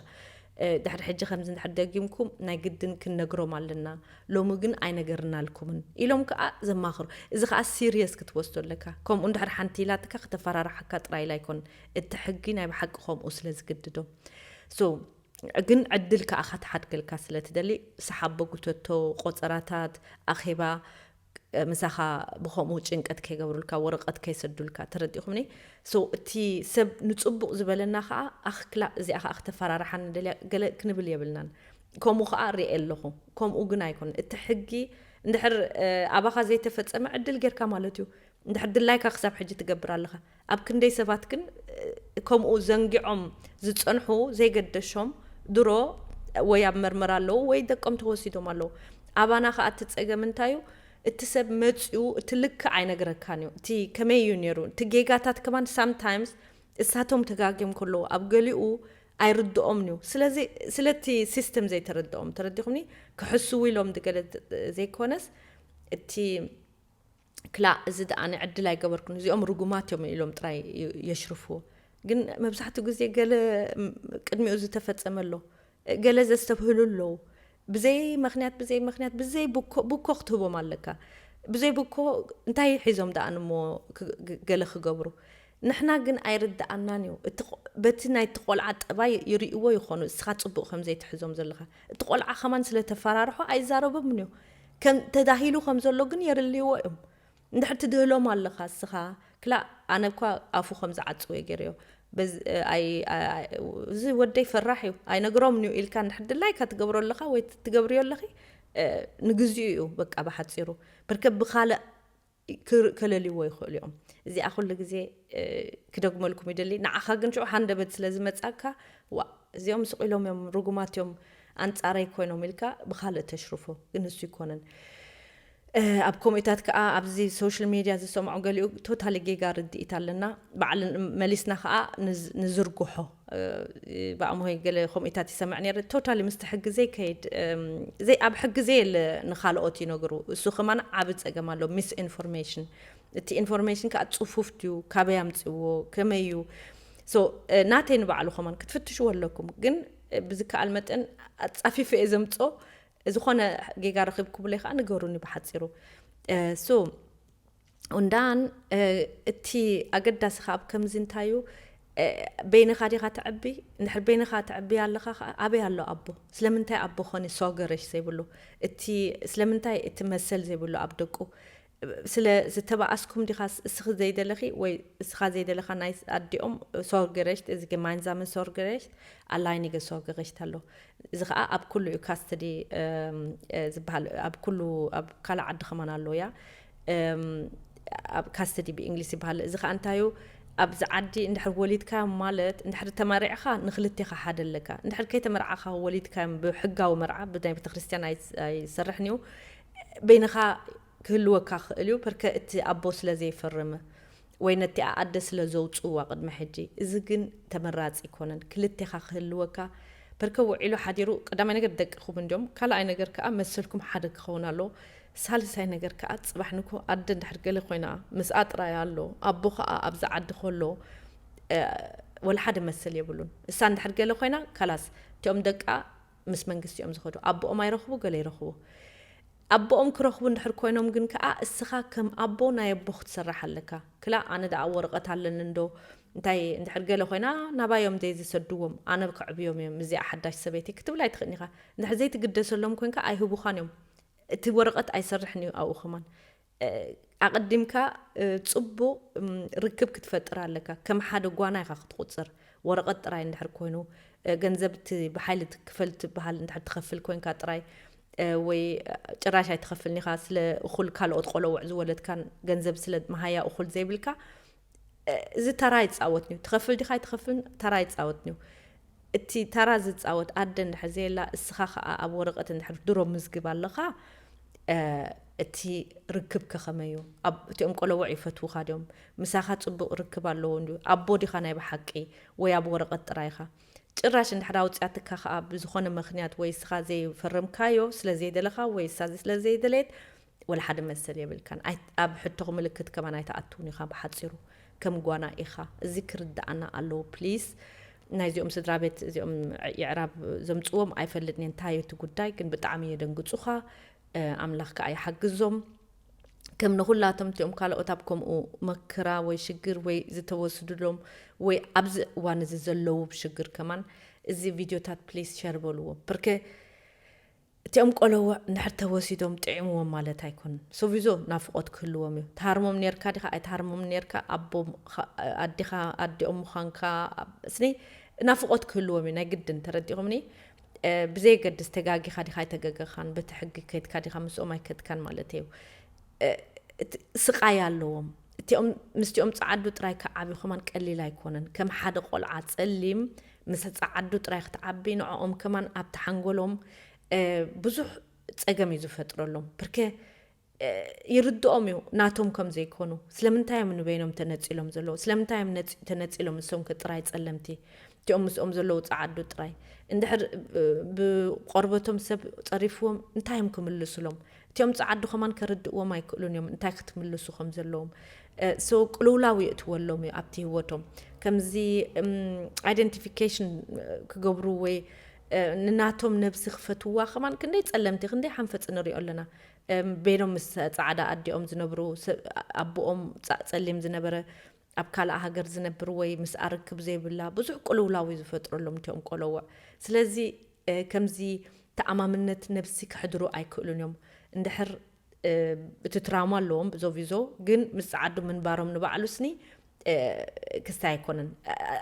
ድሕሪ ሕጂ ከምዚ እንድሕር ደጊምኩም ናይ ግድን ክንነግሮም ኣለና፣ ሎሚ ግን ኣይነገርናልኩምን ኢሎም ከኣ ዘማኽሩ፣ እዚ ከኣ ሲርየስ ክትወስዶ ኣለካ፣ ከምኡ እንድሕር ሓንቲ ኢላትካ ክተፈራርሓካ ጥራይ ኢላ ኣይኮነን፣ እቲ ሕጊ ናይ ብሓቂ ከምኡ ስለ ዝግድዶ so ግን ዕድል ከኣ ከተሓድገልካ ስለ ትደሊ ሰሓቦ ጉተቶ ቆጸራታት ኣኼባ ምሳኻ ብከምኡ ጭንቀት ከይገብሩልካ ወረቀት ከይሰዱልካ ተረዲኹምኒ so እቲ ሰብ ንጽቡቅ ዝበለና ከኣ ኣኽ ክላእ እዚኣ ከኣ ክተፈራርሓኒ ደልያ ገለ ክንብል የብልናን ከምኡ ከኣ ርኤ ኣለኹ ከምኡ ግን ኣይኮነን እቲ ሕጊ እንድሕር ኣባኻ ዘይተፈጸመ ዕድል ጌርካ ማለት እዩ እንድሕር ድላይካ ክሳብ ሕጂ ትገብር ኣለኻ ኣብ ክንደይ ሰባት ግን ከምኡ ዘንጊዖም ዝጸንሑ ዘይገደሾም ድሮ ወይ ኣብ መርመራ ኣለዉ ወይ ደቆም ተወሲዶም ኣለዉ። ኣባና ከኣ እቲ ጸገም እንታይ እዩ እቲ ሰብ መጽዩ እቲ ልክዕ ኣይነግረካን እዩ እቲ ከመይ እዩ ኔሩ እቲ ጌጋታት ከማን sometimes እሳቶም ተጋግዮም ከለዉ ኣብ ገሊኡ ኣይርድኦምን እዩ ስለዚ ስለቲ ሲስተም ዘይተረድኦም ተረዲኹምኒ ክሕስዉ ኢሎም ገለ ዘይኮነስ እቲ ክላእ እዚ ደኣ ኣነ ዕድል ኣይገበርኩን እዚኦም ርጉማት እዮም ኢሎም ጥራይ የሽርፍዎ ግን መብዛሕትኡ ግዜ ገለ ቅድሚኡ ዝተፈጸመ ኣሎ ገለ ዘስተብህሉ ኣለዉ ብዘይ ምክንያት ብዘይ ምክንያት ብዘይ ብኮ ብኮ ክትህቦም ኣለካ ብዘይ ብኮ እንታይ ሒዞም ደኣ ንሞ ገለ ክገብሩ ንሕና ግን ኣይርድኣናን እዩ እቲ በቲ ናይቲ ቆልዓ ጠባይ ይርእይዎ ይኾኑ እስኻ ፅቡቅ ከም ዘይትሕዞም ዘለኻ እቲ ቆልዓ ከማን ስለተፈራርሖ ኣይዛረቦምን እዩ ከም ተዳሂሉ ከም ዘሎ ግን የርልይዎ እዮም እንድሕር ትድህሎም ኣለኻ እስኻ ክላእ ኣነ እኳ ኣፉ ከም ዝዓጽው እየ ገይረዮ በዝ- እ፣ ኣይ ኣይ- ኣይ- እዚ ወደይ ፈራሕ እዩ ኣይነግሮምን እዩ ኢልካ እንድሕር ድላይካ ትገብሮ ኣለኻ ወይ ትገብርዮ ኣለኺ እ፣ ንግዚኡ እዩ በቃ ብሓጺሩ ብርከ ብኻልእ ክከለልዎ ይኽእሉ እዮም። እዚኣ ኩሉ ግዜ ክደግመልኩም ይደሊ። ንዓኻ ግን ሽዑ ሃንደበት ስለ ዝመጻካ ዋእ እዚኦም ስቕ ኢሎም እዮም ርጉማት እዮም ኣንጻረይ ኮይኖም ኢልካ ብኻልእ ተሽርፎ ግን ንሱ ኣይኮነን። ኣብ ኮሜታት ከዓ ኣብዚ ሶሻል ሚድያ ዝሰምዖ ገሊኡ ቶታሊ ጌጋ ርድኢት ኣለና በዓል መሊስና ከዓ ንዝርግሖ ብኣምሆይ ገለ ኮምኢታት ይሰምዕ ነይረ ቶታሊ ምስቲ ሕጊ ዘይከይድ ዘይ ኣብ ሕጊ ዘየለ ንካልኦት ይነግሩ እሱ ከማን ዓብ ጸገም ኣሎ ሚስ ኢንፎርሜሽን እቲ ኢንፎርሜሽን ከዓ ጽፉፍ ድዩ ካበይ ኣምጽዎ ከመይ እዩ ሶ ናተይ ንባዕሉ ከማን ክትፍትሽዎ ኣለኩም ግን ብዝከኣል መጠን ኣጻፊፈ እየ ዘምጾ ዝኾነ ጌጋ ረኺብኩምለይ ከዓ ንገሩኒ ብሓፂሩ ሶ ኡንዳን እቲ ኣገዳሲ ከኣ ኣብ ከምዚ እንታይ እዩ በይንኻ ዲኻ ተዕቢ እንድሕር በይንኻ ተዕብያ ኣለኻ ከኣ ኣበይ ኣሎ ኣቦ ስለምንታይ ኣቦ ኾኒ ሶገረሽ ዘይብሉ እቲ ስለምንታይ እቲ መሰል ዘይብሉ ኣብ ደቁ ስለ ዝተባኣስኩም ዲኻ እስኺ ዘይደለኺ ወይ እስኻ ዘይደለኻ ናይ ኣዲኦም ሶርገረሽት እዚ ገማንዛመ ሶርገረሽት ኣላይኒገ ሶርገረሽት ኣሎ እዚ ከዓ ኣብ ኩሉ እዩ ካስተዲ ዝበሃል ኣብ ኩሉ ኣብ ካልእ ዓዲ ከማን ኣሎ እያ ኣብ ካስተዲ ብእንግሊዝ ይበሃል እዚ ከዓ እንታይ እዩ ኣብዚ ዓዲ እንድሕር ወሊድካዮም ማለት እንድሕር ተመሪዕኻ ንክልቴኻ ሓደ ኣለካ እንድሕር ከይተመርዓኻ ወሊድካዮም ብሕጋዊ መርዓ ብናይ ቤተክርስትያን ኣይሰርሕን እዩ በይንኻ ክህልወካ ክእል እዩ ፐርከ እቲ ኣቦ ስለ ዘይፈርም ወይ ነቲኣ ኣደ ስለ ዘውጽእዋ ቅድሚ ሕጂ እዚ ግን ተመራጺ ኣይኮነን ክልቴኻ ክህልወካ በርከ ውዒሉ ሓዲሩ ቀዳማይ ነገር ደቅኹም እንድዮም ካልኣይ ነገር ከኣ መሰልኩም ሓደ ክኸውን ኣለዎ ሳልሳይ ነገር ከኣ ጽባሕ ንግሆ ኣደ እንድሕር ገለ ኮይና ምስኣ ጥራይ ኣሎ ኣቦ ከኣ ኣብዛ ዓዲ ከሎ ወላ ሓደ መሰል የብሉን እሳ እንድሕር ገለ ኮይና ካላስ እቲኦም ደቃ ምስ መንግስቲ እዮም ዝኸዱ ኣቦኦም ኣይረኽቡ ገለ ይረኽቡ ኣቦኦም ክረኽቡ እንድሕር ኮይኖም ግን ከኣ እስኻ ከም ኣቦ ናይ ኣቦ ክትሰርሕ ኣለካ። ክላእ ኣነ ደኣ ወረቐት ኣለኒ እንዶ እንታይ እንድሕር ገለ ኮይና ናባዮም ዘይዝሰድዎም ኣነ ከዕብዮም እየ ምስዚኣ ሓዳሽ ሰበይቲ ክትብል ኣይትኽእን ኢኻ። እንድሕር ዘይትግደሰሎም ኮንካ ኣይህቡኻን እዮም እቲ ወረቐት ኣይሰርሕን እዩ ኣብኡ ከማን ኣቐዲምካ ጽቡቕ ርክብ ክትፈጥር ኣለካ። ከም ሓደ ጓና ኢኻ ክትቑጽር። ወረቐት ጥራይ እንድሕር ኮይኑ፣ ገንዘብ እቲ ብሓይሊ ክፈል ትብሃል እንድሕር ትኸፍል ኮንካ ጥራይ፣ ወይ ጭራሽ ኣይትኸፍልን ኢኻ፣ ስለ እኹል ካልኦት ቆለውዕ ዝወለድካን ገንዘብ ስለ መሃያ እኹል ዘይብልካ፣ እዚ ተራ ይጻወትንዩ ትኸፍል ዲኻ ኣይትኸፍልን ተራ ይጻወትንዩ እቲ ተራ ዝጻወት ኣደ እንድሕር ዘየላ እስኻ ከኣ ኣብ ወረቐት እንድሕር ድሮ ምዝግብ ኣለኻ እቲ ርክብከ ከመይ እዩ እቲኦም ቆለውዕ ይፈትውኻ ድዮም ምሳኻ ጽቡቕ ርክብ ኣለዎ እንድዩ ኣቦ ዲኻ ናይ ብሓቂ ወይ ኣብ ወረቐት ጥራይ ኢኻ ጭራሽ እንድሕር ኣውፅያትካ ከዓ ብዝኾነ ምክንያት ወይ እስኻ ዘይፈረምካዮ ስለዘይደለኻ ወይ እሳ ስለዘይደለየት ወላ ሓደ መሰል የብልካን ኣይ ኣብ ሕቶኽ ምልክት ከማን ኣይትኣትውን ኢኻ ብሓጺሩ ከም ጓና ኢኻ እዚ ክርድኣና ኣለዎ please ናይ እዚኦም ስድራቤት እዚኦም የዕራብ ዘምጽዎም ኣይፈልጥን እየ እንታይ እዩ እቲ ጉዳይ ግን ብጣዕሚ የደንግጹኻ ኣምላኽ ከኣ ይሓግዞም ከም ንኹላቶም እቲኦም ካልኦት ኣብ ከምኡ መክራ ወይ ሽግር ወይ ዝተወስድሎም ወይ ኣብዚ እዋን እዚ ዘለዉ ሽግር ከማን እዚ ቪድዮታት ፕሊስ ሸር በልዎ ብርከ እቲኦም ቆለውዕ እንድሕር ተወሲዶም ጥዒምዎም ማለት ኣይኮኑን። ሶቪዞ ናፍቖት ክህልዎም እዩ። ትሃርሞም ኔርካ ዲኻ ኣይትሃርሞምን ኔርካ፣ ኣቦ ኣዲኻ ኣዲኦም ምዃንካ ስኒ ናፍቖት ክህልዎም እዩ ናይ ግድን። ተረዲእኩምኒ? ብዘየገድስ ተጋጊኻ ዲኻ ኣይተገገኻን፣ በቲ ሕጊ ከድካ ዲኻ ምስኦም ኣይከድካን ማለተይ እዩ። ስቓይ ኣለዎም። እቲኦም ምስቲኦም ጸዓዱ ጥራይ ክዓብዩ ከማን ቀሊል ኣይኮነን። ከም ሓደ ቆልዓ ጸሊም ምስ ጸዓዱ ጥራይ ክትዓቢ ንዖኦም ከማን ኣብቲ ሓንጎሎም ብዙሕ ጸገም እዩ ዝፈጥረሎም ብርከ ይርድኦም እዩ ናቶም ከም ዘይኮኑ ስለምንታይ እዮም ንበይኖም ተነጺሎም ዘለዉ ስለምንታይ እዮም ተነጺሎም ንሶም ከ ጥራይ ጸለምቲ እቲኦም ምስኦም ዘለዉ ጸዓዱ ጥራይ እንድሕር ብቆርበቶም ሰብ ጸሪፍዎም እንታይ እዮም ክምልስሎም እቲኦም ጸዓዱ ከማን ከርድእዎም ኣይክእሉን እዮም እንታይ ክትምልሱ ከም ዘለዎም so ቅልውላው የእትወሎም እዩ ኣብቲ ህይወቶም ከምዚ ኣይደንቲፊኬሽን ክገብሩ ወይ ንናቶም ነብሲ ክፈትዋ ከማን ክንደይ ጸለምቲ ክንደይ ሓንፈጽ ንሪኦ ኣለና ቤሎም ምስ ጻዕዳ ኣዲኦም ዝነብሩ ኣቦኦም ጸሊም ዝነበረ ኣብ ካልኣ ሃገር ዝነብር ወይ ምስኣ ርክብ ዘይብላ ብዙሕ ቅልውላው እዩ ዝፈጥረሎም እቲኦም ቆሎውዕ ስለዚ ከምዚ ተኣማምነት ነብሲ ከሕድሩ ኣይክእሉን እዮም እንድሕር እቲ ትራውማ ኣለዎም ዞቪዞ ግን ምስ ጸዓዱ ምንባሮም ንባዕሉ ስኒ ክስታይ ኣይኮነን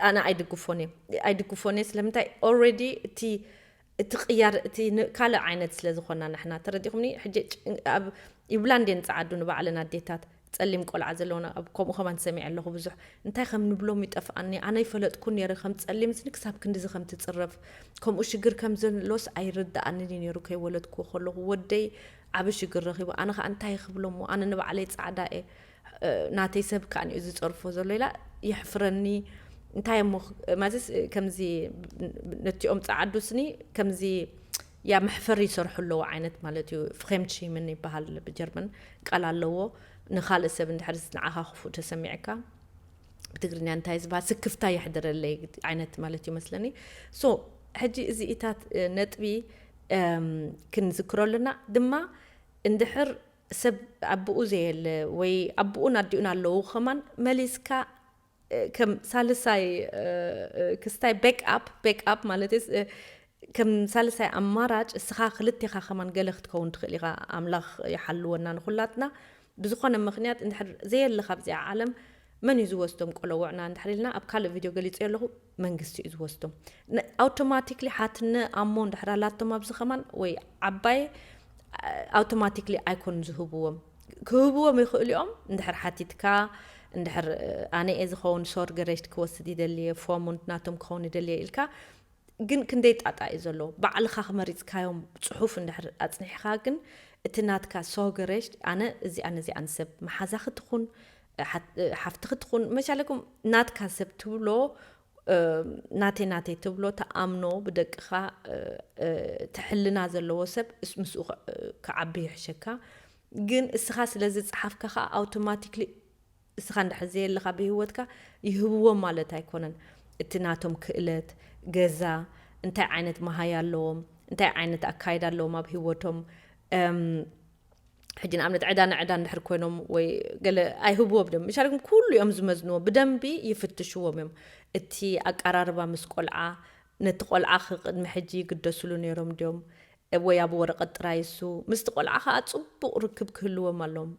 ኣነ ኣይድግፎን እየ ኣይድግፎን እየ ስለምንታይ ኦልሬዲ እቲ እቲ ቅያር እቲ ካልእ ዓይነት ስለ ዝኾና ንሕና ተረዲኹምኒ ሕጂ ኣብ ይብላን ድየን ጸዓዱ ንባዕለን ኣዴታት ጸሊም ቆልዓ ዘለወን ኣብ ከምኡ ከማን ሰሚዐ ኣለኹ ብዙሕ እንታይ ከም ንብሎም ይጠፍኣኒ ኣነ ይፈለጥኩን ነይረ ከም ጸሊም ስኒ ክሳብ ክንድዚ ከም ትጽረፍ ከምኡ ሽግር ከም ዘሎስ ኣይርድኣንን እዩ ነይሩ ከይወለድኩዎ ከለኹ ወደይ ዓቢ ሽግር ረኺቡ ኣነ ከኣ እንታይ ክብሎሞ ኣነ ንባዕለይ ጻዕዳ እየ ናተይ ሰብ ከኣ እዩ ዝጸርፎ ዘሎ ኢላ የሕፍረኒ እንታይ እሞ ማለትስ ከምዚ ነቲኦም ጸዓዱ ስኒ ከምዚ ያ መሕፈሪ ይሰርሑ ኣለዎ ዓይነት ማለት እዩ ፍሬምቺምን ይበሃል ብጀርመን ቃል ኣለዎ ንካልእ ሰብ እንድሕር ንዓኻ ክፉእ ተሰሚዕካ ብትግርኛ እንታይ ዝበሃል ስክፍታ የሕድረለይ ዓይነት ማለት እዩ መስለኒ ሶ ሕጂ እዚ እታት ነጥቢ ክንዝክረሉና ድማ እንድሕር ሰብ ኣቡኡ ዘየለ ወይ ኣቡኡን ኣዲኡን ኣለዉ ከማን መሊስካ ከም ሳልሳይ ክስታይ ቤክ ኣፕ ቤክ ኣፕ ማለት ከም ሳልሳይ ኣማራጭ እስኻ ክልቴኻ ከማን ገለ ክትከውን ትኽእል ኢኻ ኣምላኽ ይሓልወና ንኹላትና ብዝኾነ ምኽንያት እንድሕር ዘየለኻ ኣብዚኣ ዓለም መን እዩ ዝወስዶም ቆለውዕና እንድሕር ኢልና ኣብ ካልእ ቪድዮ ገሊጸዮ ኣለኹ መንግስቲ እዩ ዝወስዶ ኣውቶማቲክሊ ሓትነ ኣሞ እንድሕር ኣላቶም ኣብዚ ከማን ወይ ዓባይ ኣውቶማቲክሊ ኣይኮን ዝህብዎም ክህብዎም ይኽእሉ እዮም እንድሕር ሓቲትካ እንድሕር ኣነ እየ ዝኸውን ሶር ገረጅት ክወስድ ይደልየ ፎሙንት ናቶም ክኸውን ይደልየ ኢልካ ግን ክንደይ ጣጣ እዩ ዘሎ ባዕልኻ ክመሪፅካዮም ፅሑፍ እንድሕር ኣፅኒሕኻ ግን እቲ ናትካ ሶገረጅት ኣነ እዚኣን እዚኣን ሰብ መሓዛኺ ትኹን ሓፍትኺ ትኹን መቻለኩም ናትካ ሰብ ትብሎ ናተይ ናተይ ትብሎ ተኣምኖ ብደቅኻ ትሕልና ዘለዎ ሰብ ምስኡ ክዓቢ ይሕሸካ ግን እስኻ ስለ ዝጸሓፍካ ከኣ ኣውቶማቲክሊ እስኻ እንድሕር ዘየለኻ ብህይወትካ ይህብዎም ማለት ኣይኮነን እቲ ናቶም ክእለት ገዛ እንታይ ዓይነት መሃያ ኣለዎም እንታይ ዓይነት ኣካይዳ ኣለዎም ኣብ ህይወቶም ሕጂ ንኣብነት ዕዳ ንዕዳ እንድሕር ኮይኖም ወይ ገለ ኣይህብዎም ድም ምሻልኩም ኩሉ እዮም ዝመዝንዎ ብደንቢ ይፍትሽዎም እዮም እቲ ኣቀራርባ ምስ ቆልዓ ነቲ ቆልዓ ክቅድሚ ሕጂ ይግደስሉ ነይሮም ድዮም ወይ ኣብ ወረቀት ጥራይ እሱ ምስቲ ቆልዓ ከዓ ፅቡቅ ርክብ ክህልዎም ኣሎም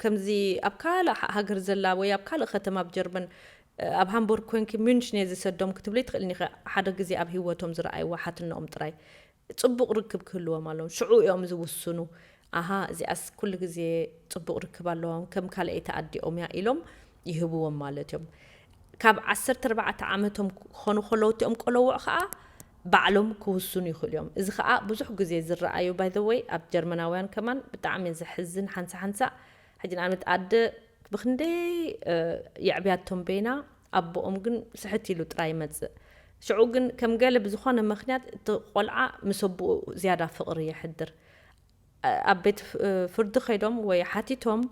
ከምዚ ኣብ ካልእ ሃገር ዘላ ወይ ኣብ ካልእ ከተማ ኣብ ጀርመን ኣብ ሃምቦርግ ኮንኪ ሚንሽን እየ ዝሰዶም ክትብለይ ትኽእልኒ ሓደ ግዜ ኣብ ሂወቶም ዝረኣይዎ ሓትነኦም ጥራይ ጽቡቕ ርክብ ክህልዎም ኣለዎም ሽዑ እዮም ዝውስኑ ኣሃ እዚኣስ ኩሉ ግዜ ጽቡቕ ርክብ ኣለዎም ከም ካልኣይቲ ኣዲኦም እያ ኢሎም ይህብዎም ማለት እዮም ካብ ዓሰርተ ኣርባዕተ ዓመቶም ክኾኑ ከለዉ እቲኦም ቆለውዕ ከኣ ባዕሎም ክውስኑ ይኽእሉ እዮም እዚ ከኣ ብዙሕ ግዜ ዝረኣዩ ባይ ዘ ወይ ኣብ ጀርመናውያን ከማን ብጣዕሚ ዘሕዝን ሓንሳ ሓንሳ ሕጂ ንኣብነት ኣደ ብክንደይ የዕብያቶም በይና ኣቦኦም ግን ስሕት ኢሉ ጥራይ ይመጽእ። ሽዑ ግን ከም ገለ ብዝኾነ ምኽንያት እቲ ቆልዓ ምስ ኣቦኡ ዝያዳ ፍቕሪ የሕድር። ኣብ ቤት ፍርዲ ከይዶም ወይ ሓቲቶም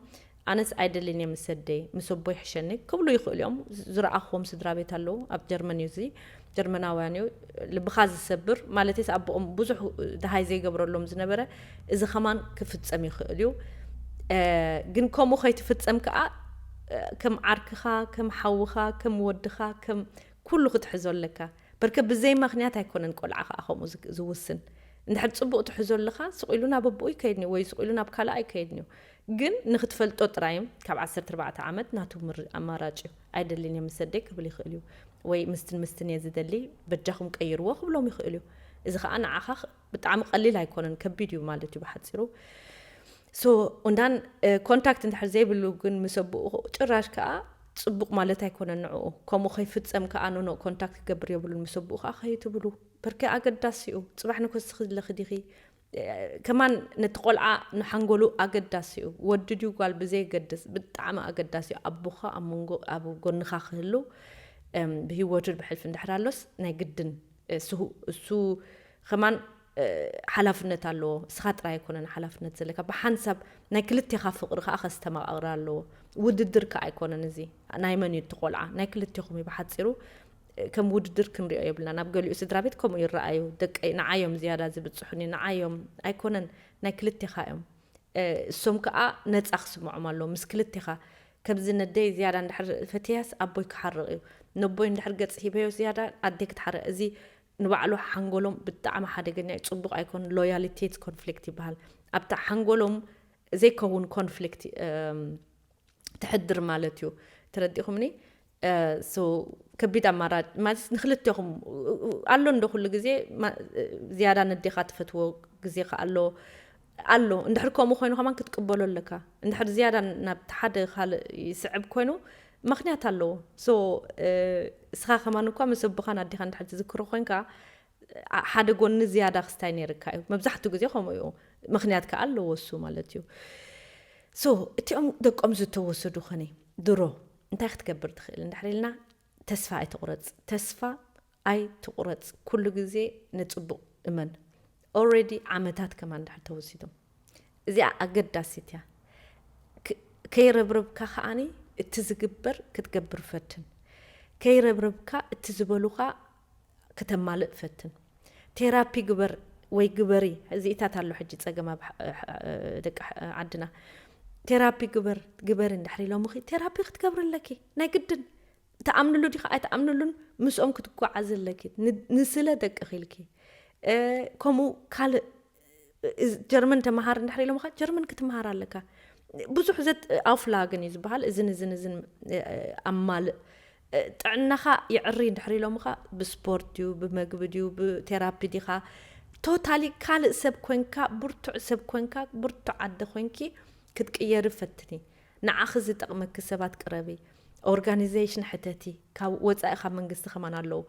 ኣነስ ኣይደልን እየ ምስ ኣደይ ምስ ኣቦይ ይሕሸኒ ክብሉ ይኽእሉ እዮም። ዝረኣኹዎም ስድራቤት ኣለዉ ኣብ ጀርመን እዩ እዚ። ጀርመናውያን እዩ ልብኻ ዝሰብር ማለትስ ኣቦኦም ብዙሕ ደሃይ ዘይገብረሎም ዝነበረ እዚ ከማን ክፍጸም ይኽእል እዩ ግን ከምኡ ከይትፍጸም ከዓ ከም ዓርክኻ ከም ሓውኻ ከም ወድኻ ከም ኩሉ ክትሕዞ ኣለካ በርከ ብዘይ ምክንያት ኣይኮነን ቆልዓ ከዓ ከምኡ ዝውስን እንድሕር ፅቡቅ ትሕዞ ኣለኻ ስቂሉ ናብ ኣቦኡ ይከይድኒ ወይ ስቂሉ ናብ ካልኣ ይከይድኒ እዩ ግን ንክትፈልጦ ጥራይ ካብ 14 ዓመት ናቱ ኣማራጭ እዩ ኣይደልን እየ ምስ ኣደይ ክብል ይኽእል እዩ። ወይ ምስትን ምስትን እየ ዝደሊ በጃኹም ቀይርዎ ክብሎም ይኽእል እዩ። እዚ ከዓ ንዓኻ ብጣዕሚ ቀሊል ኣይኮነን ከቢድ እዩ ማለት እዩ ብሓፂሩ ሶ እንዳን ኮንታክት እንድሕር ዘይብሉ ግን ምስ ኣቦኡ ጭራሽ ከዓ ፅቡቅ ማለት ኣይኮነን ንዕኡ ከምኡ ከይፍፀም ከዓ ኖኖ ኮንታክት ክገብር የብሉን ምስ ኣቦኡ ከዓ ከይትብሉ ብርኪ ኣገዳሲ እዩ ፅባሕ ንኮስኺ ዝለኺ ዲኺ ከማን ነቲ ቆልዓ ንሓንጎሉ ኣገዳሲ እዩ ወዲ ድዩ ጓል ብዘየገድስ ብጣዕሚ ኣገዳሲ እዩ ኣቦካ ኣብ መንጎ ኣብ ጎንካ ክህሉ ብሂወቱ ብሕልፊ እንድሕር ኣሎስ ናይ ግድን እሱ እሱ ከማን ሓላፍነት ኣለዎ እስኻ ጥራይ ኣይኮነን ሓላፍነት ዘለካ ብሓንሳብ ናይ ክልቴኻ ፍቅሪ ከዓ ከስተማቃቅር ኣለዎ ውድድር ከዓ ኣይኮነን እዚ ናይ መን እዩ እቲ ቆልዓ ናይ ክልቴኹም እዩ ብሓፂሩ ከም ውድድር ክንሪኦ የብልናን ኣብ ገሊኡ ስድራቤት ከምኡ ይረኣዩ ደቀይ ንዓይ እዮም ዝያዳ ዝብጽሑኒ ንዓይ እዮም ኣይኮነን ናይ ክልቴኻ እዮም እሶም ከኣ ነጻ ክስምዖም ኣለዎ ምስ ክልቴኻ ከምዚ ነደይ ዝያዳ እንድሕር ፈትያስ ኣቦይ ክሓርቕ እዩ ነቦይ እንድሕር ገጽ ሂበዮ ዝያዳ ኣደይ ክትሓርቕ እዚ ንባዕሉ ሓንጎሎም ብጣዕሚ ሓደገኛ እዩ ጽቡቕ ኣይኮን ሎያሊቴት ኮንፍሊክት ይበሃል ኣብታ ሓንጎሎም ዘይከውን ኮንፍሊክት ትሕድር ማለት እዩ ተረዲኹምኒ so ከቢድ ኣማራጭ ማለት ንክልቴኹም ኣሎ እንዶ ኩሉ ግዜ ዝያዳ ነዴኻ ትፈትዎ ግዜ ከ ኣሎ ኣሎ እንድሕር ከምኡ ኮይኑ ከማን ክትቅበሎ ኣለካ እንድሕር ዝያዳ ናብቲ ሓደ ካልእ ይስዕብ ኮይኑ ምክንያት ኣለዎ ሶ እስኻ ከማን እኳ ምስ ኣቦኻን ኣዴኻ እንድሕር ትዝክሮ ኮንካ ሓደ ጎኒ ዝያዳ ክስታይ ነይርካ እዩ መብዛሕትኡ ግዜ ከምኡ እዩ ምክንያት ከዓ ኣለዎ እሱ ማለት እዩ ሶ እቲኦም ደቆም ዝተወሰዱ ኸኒ ድሮ እንታይ ክትገብር ትኽእል እንድሕር ኢልና ተስፋ ኣይትቑረፅ ተስፋ ኣይትቑረፅ ኩሉ ግዜ ንፅቡቕ እመን ኦልሬዲ ዓመታት ከማ እንድሕር ተወሲዶም እዚኣ ኣገዳሲት እያ ከይረብረብካ ከዓኒ እቲ ዝግበር ክትገብር ፈትን ከይረብረብካ እቲ ዝበሉኻ ክተማልእ ፈትን ቴራፒ ግበር ወይ ግበሪ እዚኢታት ኣሎ ሕጂ ጸገም ኣብ ደቂ ዓድና ቴራፒ ግበር ግበሪ እንድሕሪ ኢሎምኺ ቴራፒ ክትገብሪ ኣለኪ ናይ ግድን ትኣምንሉ ዲኺ ኣይትኣምንሉን ምስኦም ክትጓዓዚ ኣለኪ ንስለ ደቅኺ ኢልኪ ከምኡ ካልእ ጀርመን ተመሃር እንድሕር ኢሎምኻ ጀርመን ክትመሃር ኣለካ ብዙሕ ዘት ኣውፍላግን እዩ ዝበሃል እዝን እዝን እዝን ኣማልእ ጥዕናኻ ይዕሪ እንድሕር ኢሎምኻ ብስፖርት ድዩ ብመግቢ ድዩ ብቴራፒ ዲኻ ቶታሊ ካልእ ሰብ ኮንካ ብርቱዕ ሰብ ኮንካ ብርቱዕ ኣደ ኮንኪ ክትቅየሪ ፈትኒ ንዓኺ ዝጠቕመኪ ሰባት ቅረቢ ኦርጋኒዜሽን ሕተቲ ካብ ወፃኢ ካብ መንግስቲ ከማን ኣለዉ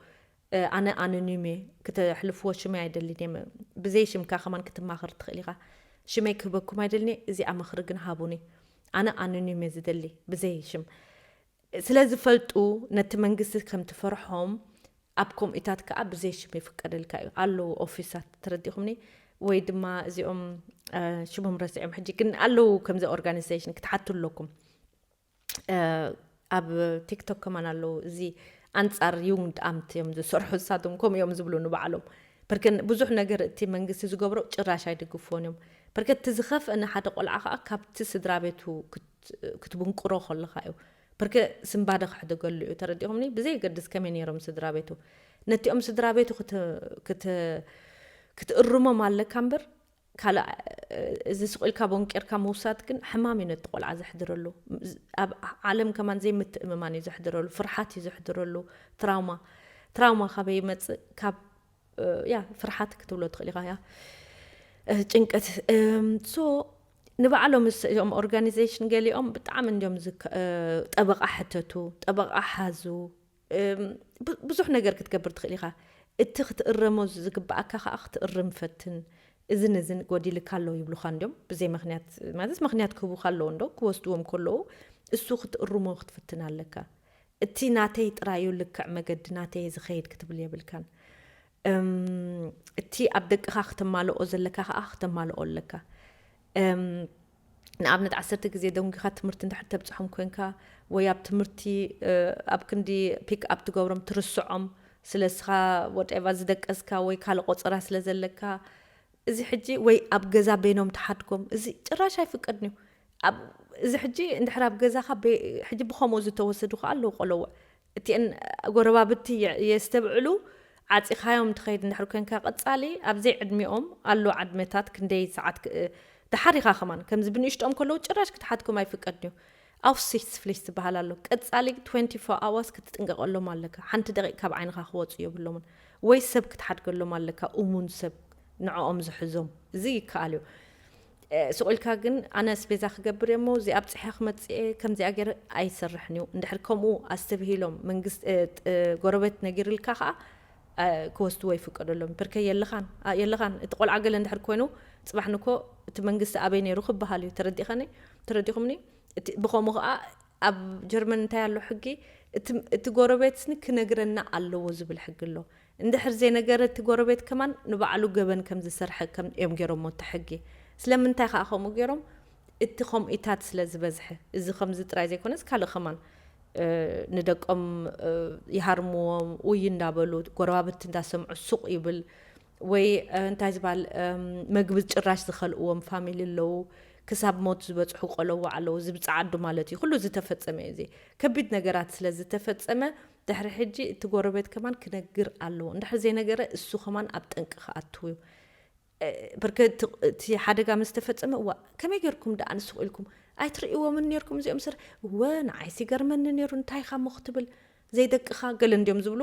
ኣነ ኣኖኒም እየ ክተሕልፍዎ ሽመይ ኣይደልን እየ ብዘይ ሽምካ ከማን ክትማኸር ትኽእል ኢኻ ሽመይ ክህበኩም ኣይደልን እየ እዚኣ ምኽሪ ግን ሃቡኒ ኣነ ኣኖኒም እየ ዝደሊ ብዘይ ሽም ስለ ዝፈልጡ ነቲ መንግስቲ ከም ትፈርሖም ኣብ ከምኡታት ከዓ ብዘይ ሽም ይፍቀደልካ እዩ ኣለዉ ኦፊሳት ተረዲኹምኒ ወይ ድማ እዚኦም ሽሞም ረሲዖም ሕጂ ግን ኣለዉ ከምዚ ኦርጋኒዜሽን ክትሓቱ ኣለኩም ኣብ ቲክቶክ ከማን ኣለዉ እዚ ኣንጻር ዩንድ ኣምት እዮም ዝሰርሑ እሳቶም ከምኡ እዮም ዝብሉ ንባዕሎም ብርክ ብዙሕ ነገር እቲ መንግስቲ ዝገብሮ ጭራሽ ኣይድግፎን እዮም ብርክ እቲ ዝኸፍአ ንሓደ ቆልዓ ከዓ ካብቲ ስድራ ቤቱ ክትብንቁሮ ከለካ እዩ ብርክ ስምባደ ክሕደገሉ እዩ ተረዲኹምኒ ብዘይገድስ ከመይ ነይሮም ስድራ ቤቱ ነቲኦም ስድራ ቤቱ ክትእርሞም ኣለካ እምበር ካልእ እዚ ስቕ ኢልካ ቦንቂርካ ምውሳድ ግን ሕማም እዩ ነቲ ቆልዓ ዘሕድረሉ። ኣብ ዓለም ከማን ዘይምትእምማን እዩ ዘሕድረሉ፣ ፍርሓት እዩ ዘሕድረሉ፣ ትራውማ። ትራውማ ካበይ ይመጽእ? ካብ ያ ፍርሓት ክትብሎ ትኽእል ኢኻ ያ ጭንቀት ሶ ንባዕሎም እዚኦም ኦርጋኒዜሽን ገሊኦም ብጣዕሚ እንዲዮም ጠበቓ ሕተቱ ጠበቓ ሓዙ ብዙሕ ነገር ክትገብር ትኽእል ኢኻ። እቲ ክትእረሞ ዝግበኣካ ከኣ ክትእርም ፈትን። እዝን እዝን ጎዲልካ ኣሎ ይብሉኻ እንድዮም ብዘይ መክንያት ማለት መክንያት ክህቡኻ ኣለዎ እንዶ ክወስድዎም ከለዉ እሱ ክትእርሞ ክትፍትን ኣለካ። እቲ ናተይ ጥራይ እዩ ልክዕ መገዲ ናተይ እየ ዝኸይድ ክትብል የብልካን። እቲ ኣብ ደቅኻ ክተማልኦ ዘለካ ከኣ ክተማልኦ ኣለካ። ንኣብነት ዓሰርተ ግዜ ደንጒኻ ትምህርቲ እንድሕር ተብጽሖም ኮንካ ወይ ኣብ ትምህርቲ ኣብ ክንዲ ፒክ ኣፕ ትገብሮም ትርስዖም ስለ እስኻ ወደቫ ዝደቀስካ ወይ ካልእ ቆጸራ ስለ ዘለካ እዚ ሕጂ ወይ ኣብ ገዛ በይኖም ትሓድጎም እዚ ጭራሽ ኣይፍቀድን እዩ እዚ ሕጂ እንድሕር ኣብ ገዛኻ ሕጂ ብከምኡ ዝተወሰዱ ከዓ ኣለዉ ቆለውዕ እቲኤን ጎረባብቲ የስተብዕሉ ዓጺኻዮም ትኸይድ እንድሕር ኮንካ ቀጻሊ ኣብ ዘይ ዕድሚኦም ኣሎ ዓድመታት ክንደይ ሰዓት ደሓር ኢኻ ከማን ከምዚ ብንእሽትኦም ከለዉ ጭራሽ ክትሓትኩም ኣይፍቀድንዩ ኣውሲትስፍሊስ ዝበሃል ኣሎ ቀጻሊ ትወንቲ ፎር ኣዋርስ ክትጥንቀቀሎም ኣለካ ሓንቲ ደቂቅ ካብ ዓይንኻ ክወጹ የብሎምን ወይ ሰብ ክትሓድገሎም ኣለካ እሙን ሰብ ንዕኦም ዝሕዞም እዚ ይከኣልዩ ሱቕ ኢልካ ግን ኣነ ኣስቤዛ ክገብር እየ'ሞ እዚኣ ኣብጺሐ ክመጽእ እየ ከምዚኣ ገይረ ኣይሰርሕን እዩ። እንድሕር ከምኡ ኣስተብሂሎም መንግስቲ ጎረቤት ነጊርልካ ከኣ ክወስድዎ ይፍቀደሎም ብርከይ የለኻን የለኻን እቲ ቆልዓ ገለ እንድሕር ኮይኑ ጽባሕ ንግሆ እቲ መንግስቲ ኣበይ ነይሩ ክበሃል እዩ ተረዲኸኒ ተረዲኹምኒ እቲ ብኸምኡ ከኣ ኣብ ጀርመን እንታይ ኣሎ ሕጊ እቲ ጎረቤትኒ ክነግረና ኣለዎ ዝብል ሕጊ ኣሎ እንድሕር ዘይነገረ እቲ ጎረቤት ከማን ንባዕሉ ገበን ከም ዝሰርሐ ከም እዮም ገይሮሞ እቲ ሕጊ ስለምንታይ ከኣ ከምኡ ገይሮም እቲ ከምኢታት ስለ ዝበዝሐ እዚ ከምዚ ጥራይ ዘይኮነስ ካልእ ከማን ንደቆም ይሃርምዎም ኡይ እንዳበሉ ጎረባብቲ እንዳሰምዑ ሱቅ ይብል ወይ እንታይ ዝባል መግቢ ጭራሽ ዝኸልእዎም ፋሚሊ ኣለዉ ክሳብ ሞት ዝበጽሑ ቆለዎ ኣለዉ እዚ ብጸዓዱ ማለት እዩ ኩሉ ዝተፈጸመ እዩ እዚ ከቢድ ነገራት ስለ ዝተፈጸመ ድሕሪ ሕጂ እቲ ጎረቤት ከማን ክነግር ኣለዎ እንድሕር ዘይነገረ እሱ ከማን ኣብ ጠንቂ ክኣትው እዩ ብርገ እቲ ሓደጋ ምስ ተፈጸመ እዋ ከመይ ጌርኩም ደኣ ንስኹ ኢልኩም ኣይትርእይዎምን ኔርኩም እዚኦም ስር እወ ንዓይሲ ገርመኒ ኔሩ እንታይ ኢኻ እሞ ክትብል ዘይደቅኻ ገለ እንዲዮም ዝብሉ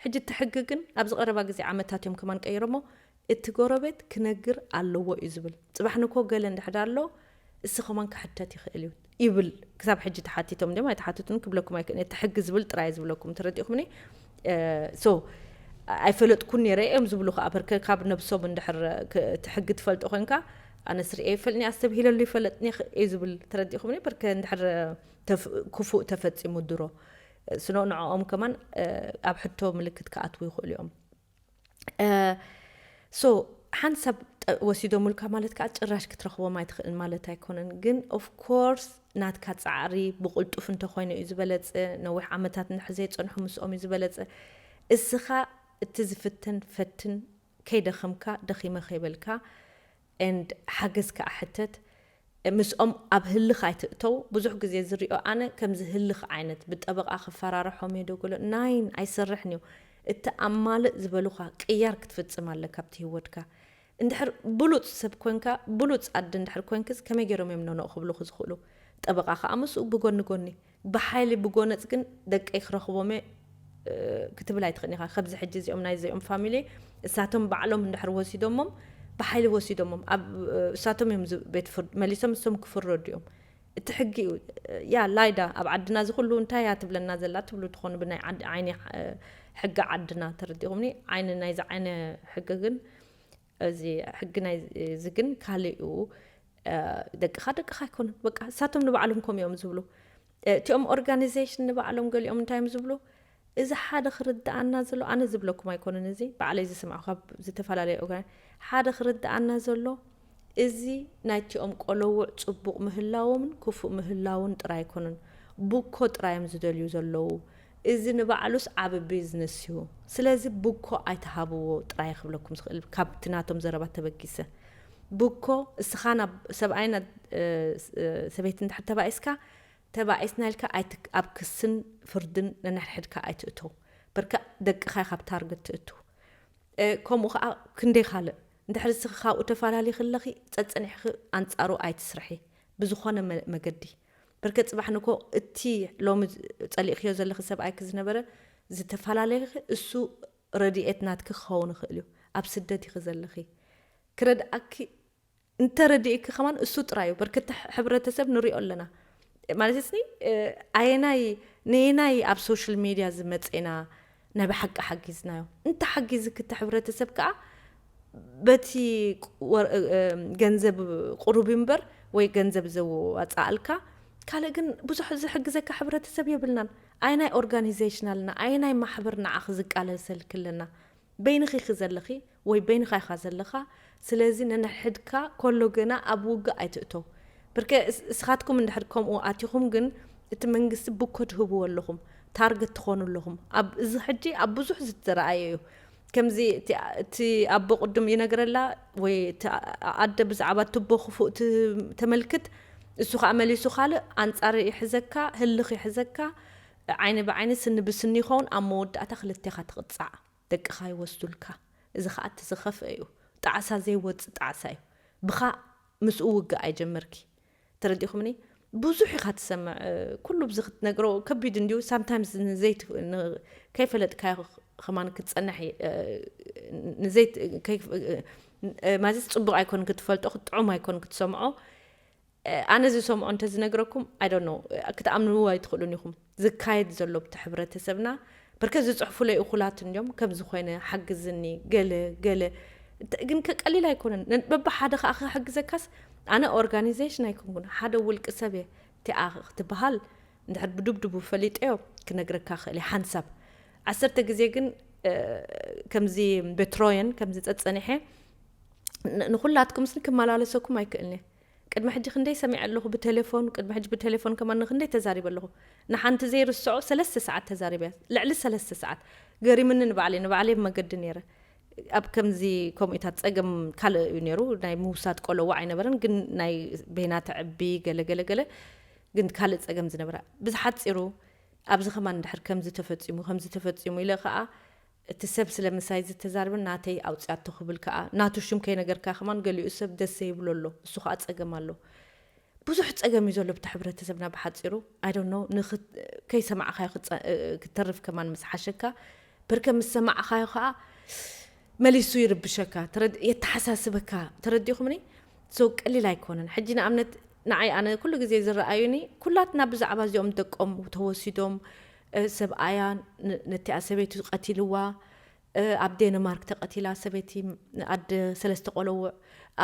ሕጂ እቲ ሕጊ ግን ኣብዚ ቀረባ ግዜ ዓመታት እዮም ከማን ቀይሮሞ እቲ ጎረቤት ክነግር ኣለዎ እዩ ዝብል ጽባሕ ንግሆ ገለ እንድሕር ኣሎ እሲ ከማን ክሕተት ይክእል እዩ ይብል ክሳብ ሕጂ ተሓቲቶም ድም ኣይተሓትቱን ክብለኩም ኣይክእልን እቲ ሕጊ ዝብል ጥራይ ዝብለኩም ተረዲእኩምኒ ሶ ኣይፈለጥኩን ነረ እዮም ዝብሉ ከዓ በርከ ካብ ነብሶም እንድሕር እቲ ሕጊ ትፈልጦ ኮንካ ኣነ ስርኤ ይፈልኒ ኣስተብሂለሉ ይፈለጥኒ እዩ ዝብል ተረዲእኩምኒ በርከ እንድሕር ክፉእ ተፈጺሙ ድሮ ስኖ ንዕኦም ከማን ኣብ ሕቶ ምልክት ክኣትዉ ይኽእሉ እዮም ሶ ሓንቲ ሰብ ወሲዶምልካ ማለት ከዓ ጭራሽ ክትረኽቦም ኣይትኽእልን ማለት ኣይኮነን ግን ኦፍኮርስ ናትካ ፃዕሪ ብቕልጡፍ እንተኮይኑ እዩ ዝበለፀ ነዊሕ ዓመታት ንድሕር ዘይፀንሑ ምስኦም እዩ ዝበለፀ እስኻ እቲ ዝፍተን ፈትን ከይደኸምካ ደኺመ ከይበልካ and ሓገዝ ከኣ ሕተት ምስኦም ኣብ ህልኽ ኣይትእተው ብዙሕ ግዜ ዝሪኦ ኣነ ከምዚ ህልኽ ዓይነት ብጠበቓ ክፈራርሖም እየ ዶ ገለ ናይን ኣይሰርሕን እዩ እቲ ኣማልእ ዝበሉኻ ቅያር ክትፍጽም ኣለካ ኣብቲ ሂወትካ እንድሕር ብሉጽ ሰብ ኮንካ ብሉጽ ኣደ እንድሕር ኮንክስ ከመይ ገይሮም እዮም ኖኖእ ክብሉኺ ዝኽእሉ ጠበቓ ከኣ ምስኡ ብጎኒ ጎኒ ብሓይሊ ብጎነጽ ግን ደቀይ ክረኽቦምየ ክትብል ኣይትኽእልን ኢኻ ከብዚ ሕጂ እዚኦም ናይ እዚኦም ፋሚሊ እሳቶም ባዕሎም እንድሕር ወሲዶሞም ብሓይሊ ወሲዶሞም ኣብ እሳቶም እዮም ቤት ፍርድ መሊሶም እሶም ክፍረዱ እዮም እቲ ሕጊ እዩ ያ ላይዳ ኣብ ዓድና እዚ ኩሉ እንታይ እያ ትብለና ዘላ ትብሉ ትኾኑ ብናይ ዓይኒ ሕጊ ዓድና ተረዲኹምኒ ዓይኒ ናይዚ ዓይነ ሕጊ ግን እዚ ሕጊ ናይ እዚ ግን ካልእ እዩ ደቅኻ ደቅኻ ኣይኮኑን በቃ እሳቶም ንባዕሎም ከምኡ እዮም ዝብሉ እቲኦም ኦርጋኒዜሽን ንባዕሎም ገሊኦም እንታይ እዮም ዝብሉ እዚ ሓደ ክርድኣና ዘሎ ኣነ ዝብለኩም ኣይኮነን እዚ ባዕለይ ዝስምዖ ካብ ዝተፈላለዩ ኦርጋን ሓደ ክርድኣና ዘሎ እዚ ናይቲኦም ቆለውዕ ፅቡቕ ምህላዎምን ክፉእ ምህላውን ጥራይ ኣይኮነን ቡኮ ጥራይ እዮም ዝደልዩ ዘለዉ እዚ ንባዕሉስ ዓቢ ቢዝነስ እዩ ስለዚ ብኮ ኣይትሃብዎ ጥራይ ክብለኩም ዝኽእል ካብቲ ናቶም ዘረባ ተበጊሰ። ብኮ እስኻ ናብ ሰብኣይን ን ሰበይትን እንድሕር ተባኢስካ ተባኢስና ኢልካ ኣይት ኣብ ክስን ፍርድን ነንሕድሕድካ ኣይትእተው በርከ ደቅኻ ኢኻ ኣብ ታርገት ትእቱ ከምኡ ከኣ ክንደይ ካልእ እንድሕር እስኺ ካብኡ ተፋላሊኺ ኣለኺ ጸጸኒሕኺ ኣንጻሩ ኣይትስርሒ ብዝኾነ መገዲ በርከት ጽባሕ ንግሆ እቲ ሎሚ ጸሊእክዮ ዘለኺ ሰብኣይኪ ዝነበረ ዝተፋላለይኺ እሱ ረዲኤት ናትኪ ክኸውን ይኽእል እዩ ኣብ ስደት ኢኺ ዘለኺ ክረድኣኪ እንተ ረዲእኪ ከማን እሱ ጥራይ እዩ በርከት ሕብረተሰብ ንሪኦ ኣለና ማለት ስኒ ኣየናይ ነየናይ ኣብ ሶሻል ሜድያ ዝመጼና ናይ ብሓቂ ሓጊዝናዮ እንተ ሓጊዚ ክቲ ሕብረተሰብ ከኣ በቲ ገንዘብ ቁሩብ እምበር ወይ ገንዘብ ዘዋጻኣልካ ካልእ ግን ብዙሕ ዝሕግዘካ ሕብረተሰብ የብልናን ኣየናይ ኦርጋኒዘሽን ኣለና ኣየናይ ማሕበር ንዓኺ ዝቃለሰልኪ ኣለና በይንኺ ኢኺ ዘለኺ ወይ በይንኻ ኢኻ ዘለኻ ስለዚ ነንሕድካ ኮሎ ግና ኣብ ውግእ ኣይትእቶ ብርከ እስኻትኩም እንድሕር ከምኡ ኣቲኹም ግን እቲ መንግስቲ ብኮ ትህብዎ ኣለኹም ታርገት ትኾኑ ኣለኹም ኣብ እዚ ሕጂ ኣብ ብዙሕ ዝተረኣየ እዩ ከምዚ እቲ ኣቦ ቅድም ይነግረላ ወይ እቲ ኣደ ብዛዕባ ትቦ ክፉእ ተመልክት እሱ ከዓ መሊሱ ካልእ ኣንጻር ይሕዘካ ህልኽ ይሕዘካ ዓይኒ ብዓይኒ ስኒ ብስኒ ይኸውን ኣብ መወዳእታ ክልቴኻ ትቕጻዕ ደቅኻ ይወስዱልካ እዚ ኸኣ እቲ ዝኸፍኣ እዩ ጣዕሳ ዘይወጽእ ጣዕሳ እዩ ብኻ ምስኡ ውግእ ኣይጀምርኪ ተረዲኹምኒ ብዙሕ ኢኻ ትሰምዕ ኩሉ ብዚ ክትነግሮ ከቢድ እንዲዩ ሳምታይምስ ንዘይ ከይፈለጥካዮ ኸማን ክትጸንሕ ንዘይ ማለትስ ጽቡቕ ኣይኮን ክትፈልጦ ክትጥዑም ኣይኮን ክትሰምዖ ኣነ ዝሰምዖ እንተዝነግረኩም I don't know ክትኣምንዎ ኣይትኽእሉን ኢኹም ዝካየድ ዘሎ ኣብቲ ሕብረተሰብና ብርከት ዝጽሕፉለይ እኹላት እንድዮም ከምዚ ኮይነ ሓግዝኒ ገለ ገለ እንተ ግን ከ ቀሊል ኣይኮነን ነን በብሓደ ከኣ ክሕግዘካስ ኣነ ኦርጋኒዘሽን ኣይኮንኩን ሓደ ውልቂ ሰብ እየ እቲኣ ክትበሃል እንድሕር ብዱብዱቡ ፈሊጠዮ ክነግረካ ክእል እየ ሓንሳብ ዓሰርተ ግዜ ግን ከምዚ ቤትሮየን ከምዚ ጸጸኒሐ ንኹላትኩምስ ክመላለሰኩም ኣይክእልን እየ ቅድሚ ሕጂ ክንደይ ሰሚዐ ኣለኹ ብተሌፎን ቅድሚ ሕጂ ብተሌፎን ከማን ንክንደይ ተዛሪበ ኣለኹ ንሓንቲ ዘይርስዖ ሰለስተ ሰዓት ተዛሪበ እያ ልዕሊ ሰለስተ ሰዓት ገሪምኒ ንባዕለይ ንባዕለይ ኣብ መገዲ ነይረ ኣብ ከምዚ ከምኡታት ጸገም ካልእ እዩ ነይሩ ናይ ምውሳድ ቆለዋ ኣይነበረን ግን ናይ ቤና ተዕቢ ገለገለ ገለ ግን ካልእ ጸገም ዝነበራ ብዝሓጺሩ ኣብዚ ከማን ድሕር ከምዚ ተፈጺሙ ከምዚ ተፈጺሙ ኢለ ከዓ እቲ ሰብ ስለ ምሳይ ዝተዛረበ ናተይ ኣውጺኣቶ ክብል ከኣ ናቱ ሽም ከይነገርካ ከማን ገሊኡ ሰብ ደስ ዘይብሎ ኣሎ እሱ ከኣ ጸገም ኣሎ ብዙሕ ጸገም እዩ ዘሎ ኣብቲ ሕብረተሰብና ብሓጺሩ ኣይ ዶንት ኖው ንክ ከይሰማዕካዮ ክጸ ክትተርፍ ከማን ምስ ሓሸካ ብርከ ምስ ሰማዕካዮ ከኣ መሊሱ ይርብሸካ ተረድ የተሓሳስበካ ተረዲኹምኒ ሶ ቀሊል ኣይኮነን ሕጂ ንኣብነት ንዓይ ኣነ ኩሉ ግዜ ዝረኣዩኒ ኩላትና ብዛዕባ እዚኦም ደቆም ተወሲዶም ሰብኣያ ነቲኣ ሰበይቱ ቀቲልዋ ኣብ ዴንማርክ ተቀቲላ ሰበይቲ ኣደ ሰለስተ ቆለውዕ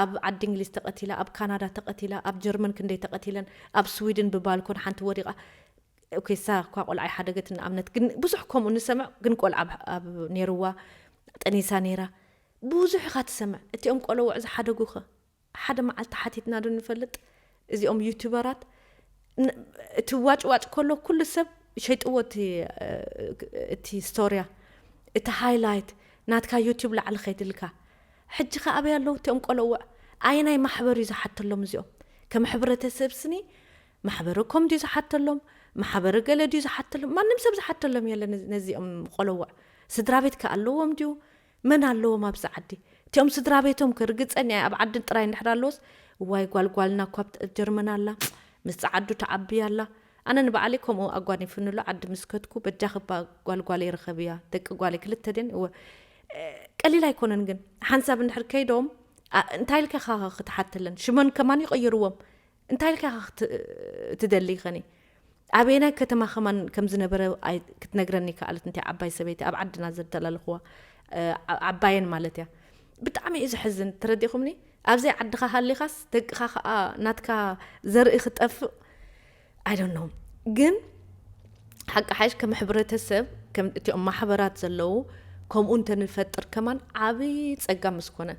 ኣብ ዓዲ እንግሊዝ ተቀቲላ ኣብ ካናዳ ተቀቲላ ኣብ ጀርመን ክንደይ ተቀቲለን ኣብ ስዊድን ብባልኮን ሓንቲ ወዲቃ ኦኬ እሳ እኳ ቆልዓ ይሓደገት ንኣብነት ግን ብዙሕ ከምኡ ንሰምዕ ግን ቆልዓ ኣብ ኔርዋ ጠኒሳ ኔራ ብዙሕ ኢካ ትሰምዕ እቲኦም ቆለውዕ ዝሓደጉ ከ ሓደ መዓልቲ ሓቲትና ዶ ንፈልጥ እዚኦም ዩቱበራት እቲ ዋጭ ዋጭ ከሎ ኩሉ ሰብ ሸይጥዎ እቲ እቲ ስቶርያ እቲ ሃይላይት ናትካ ዩቱብ ላዕሊ ከይድልካ ሕጂ ከ ኣበይ ኣለዉ እቲኦም ቆለውዕ ኣየናይ ማሕበር እዩ ዝሓተሎም እዚኦም ከም ሕብረተሰብ ስኒ ማሕበረ ኮም ድዩ ዝሓተሎም ማሕበረ ገለ ድዩ ዝሓተሎም ማንም ሰብ ዝሓተሎም የለን ነዚኦም ቆለውዕ ስድራቤት ከ ኣለዎም ድዩ መን ኣለዎም ኣብዚ ዓዲ እቲኦም ስድራቤቶም ከ ርግጸኛ እየ ኣብ ዓድን ጥራይ እንድሕር ኣለዎስ እዋይ ጓል ጓልና እኳ ኣብ ጀርመን ኣላ ምስ ጸዓዱ ትዓቢ ኣላ ኣነ ንባዕለይ ከምኡ ኣጓኒፉኒ ኣሎ ዓዲ ምስ ከድኩ በጃኺ እባ ጓል ጓለይ ርኸብያ ደቂ ጓለይ ክልተ ድየን እወ ቀሊል ኣይኮነን ግን ሓንሳብ እንድሕር ከይዶም እንታይ ኢልካ ካኸ ክትሓተለን ሽመን ከማን ይቕይርዎም እንታይ ኢልካ ኢኻ ክትደልይ ኸኒ ኣበየናይ ከተማ ከማን ከም ዝነበረ ክትነግረኒ ከኣለት እንታይ ዓባይ ሰበይቲ ኣብ ዓድና ዘተላለኽዋ ዓባየን ማለት እያ ብጣዕሚ እዩ ዘሕዝን ተረዲኹምኒ ኣብዘይ ዓድኻ ሃሊኻስ ደቅኻ ከዓ ናትካ ዘርኢ ክጠፍእ ኣይዶኖ ግን ሓቂ ሓሽ ከም ሕብረተሰብ እቲኦም ማሕበራት ዘለዉ ከምኡ እንተንፈጥር ከማን ዓብዪ ፀጋ ምስ ኮነ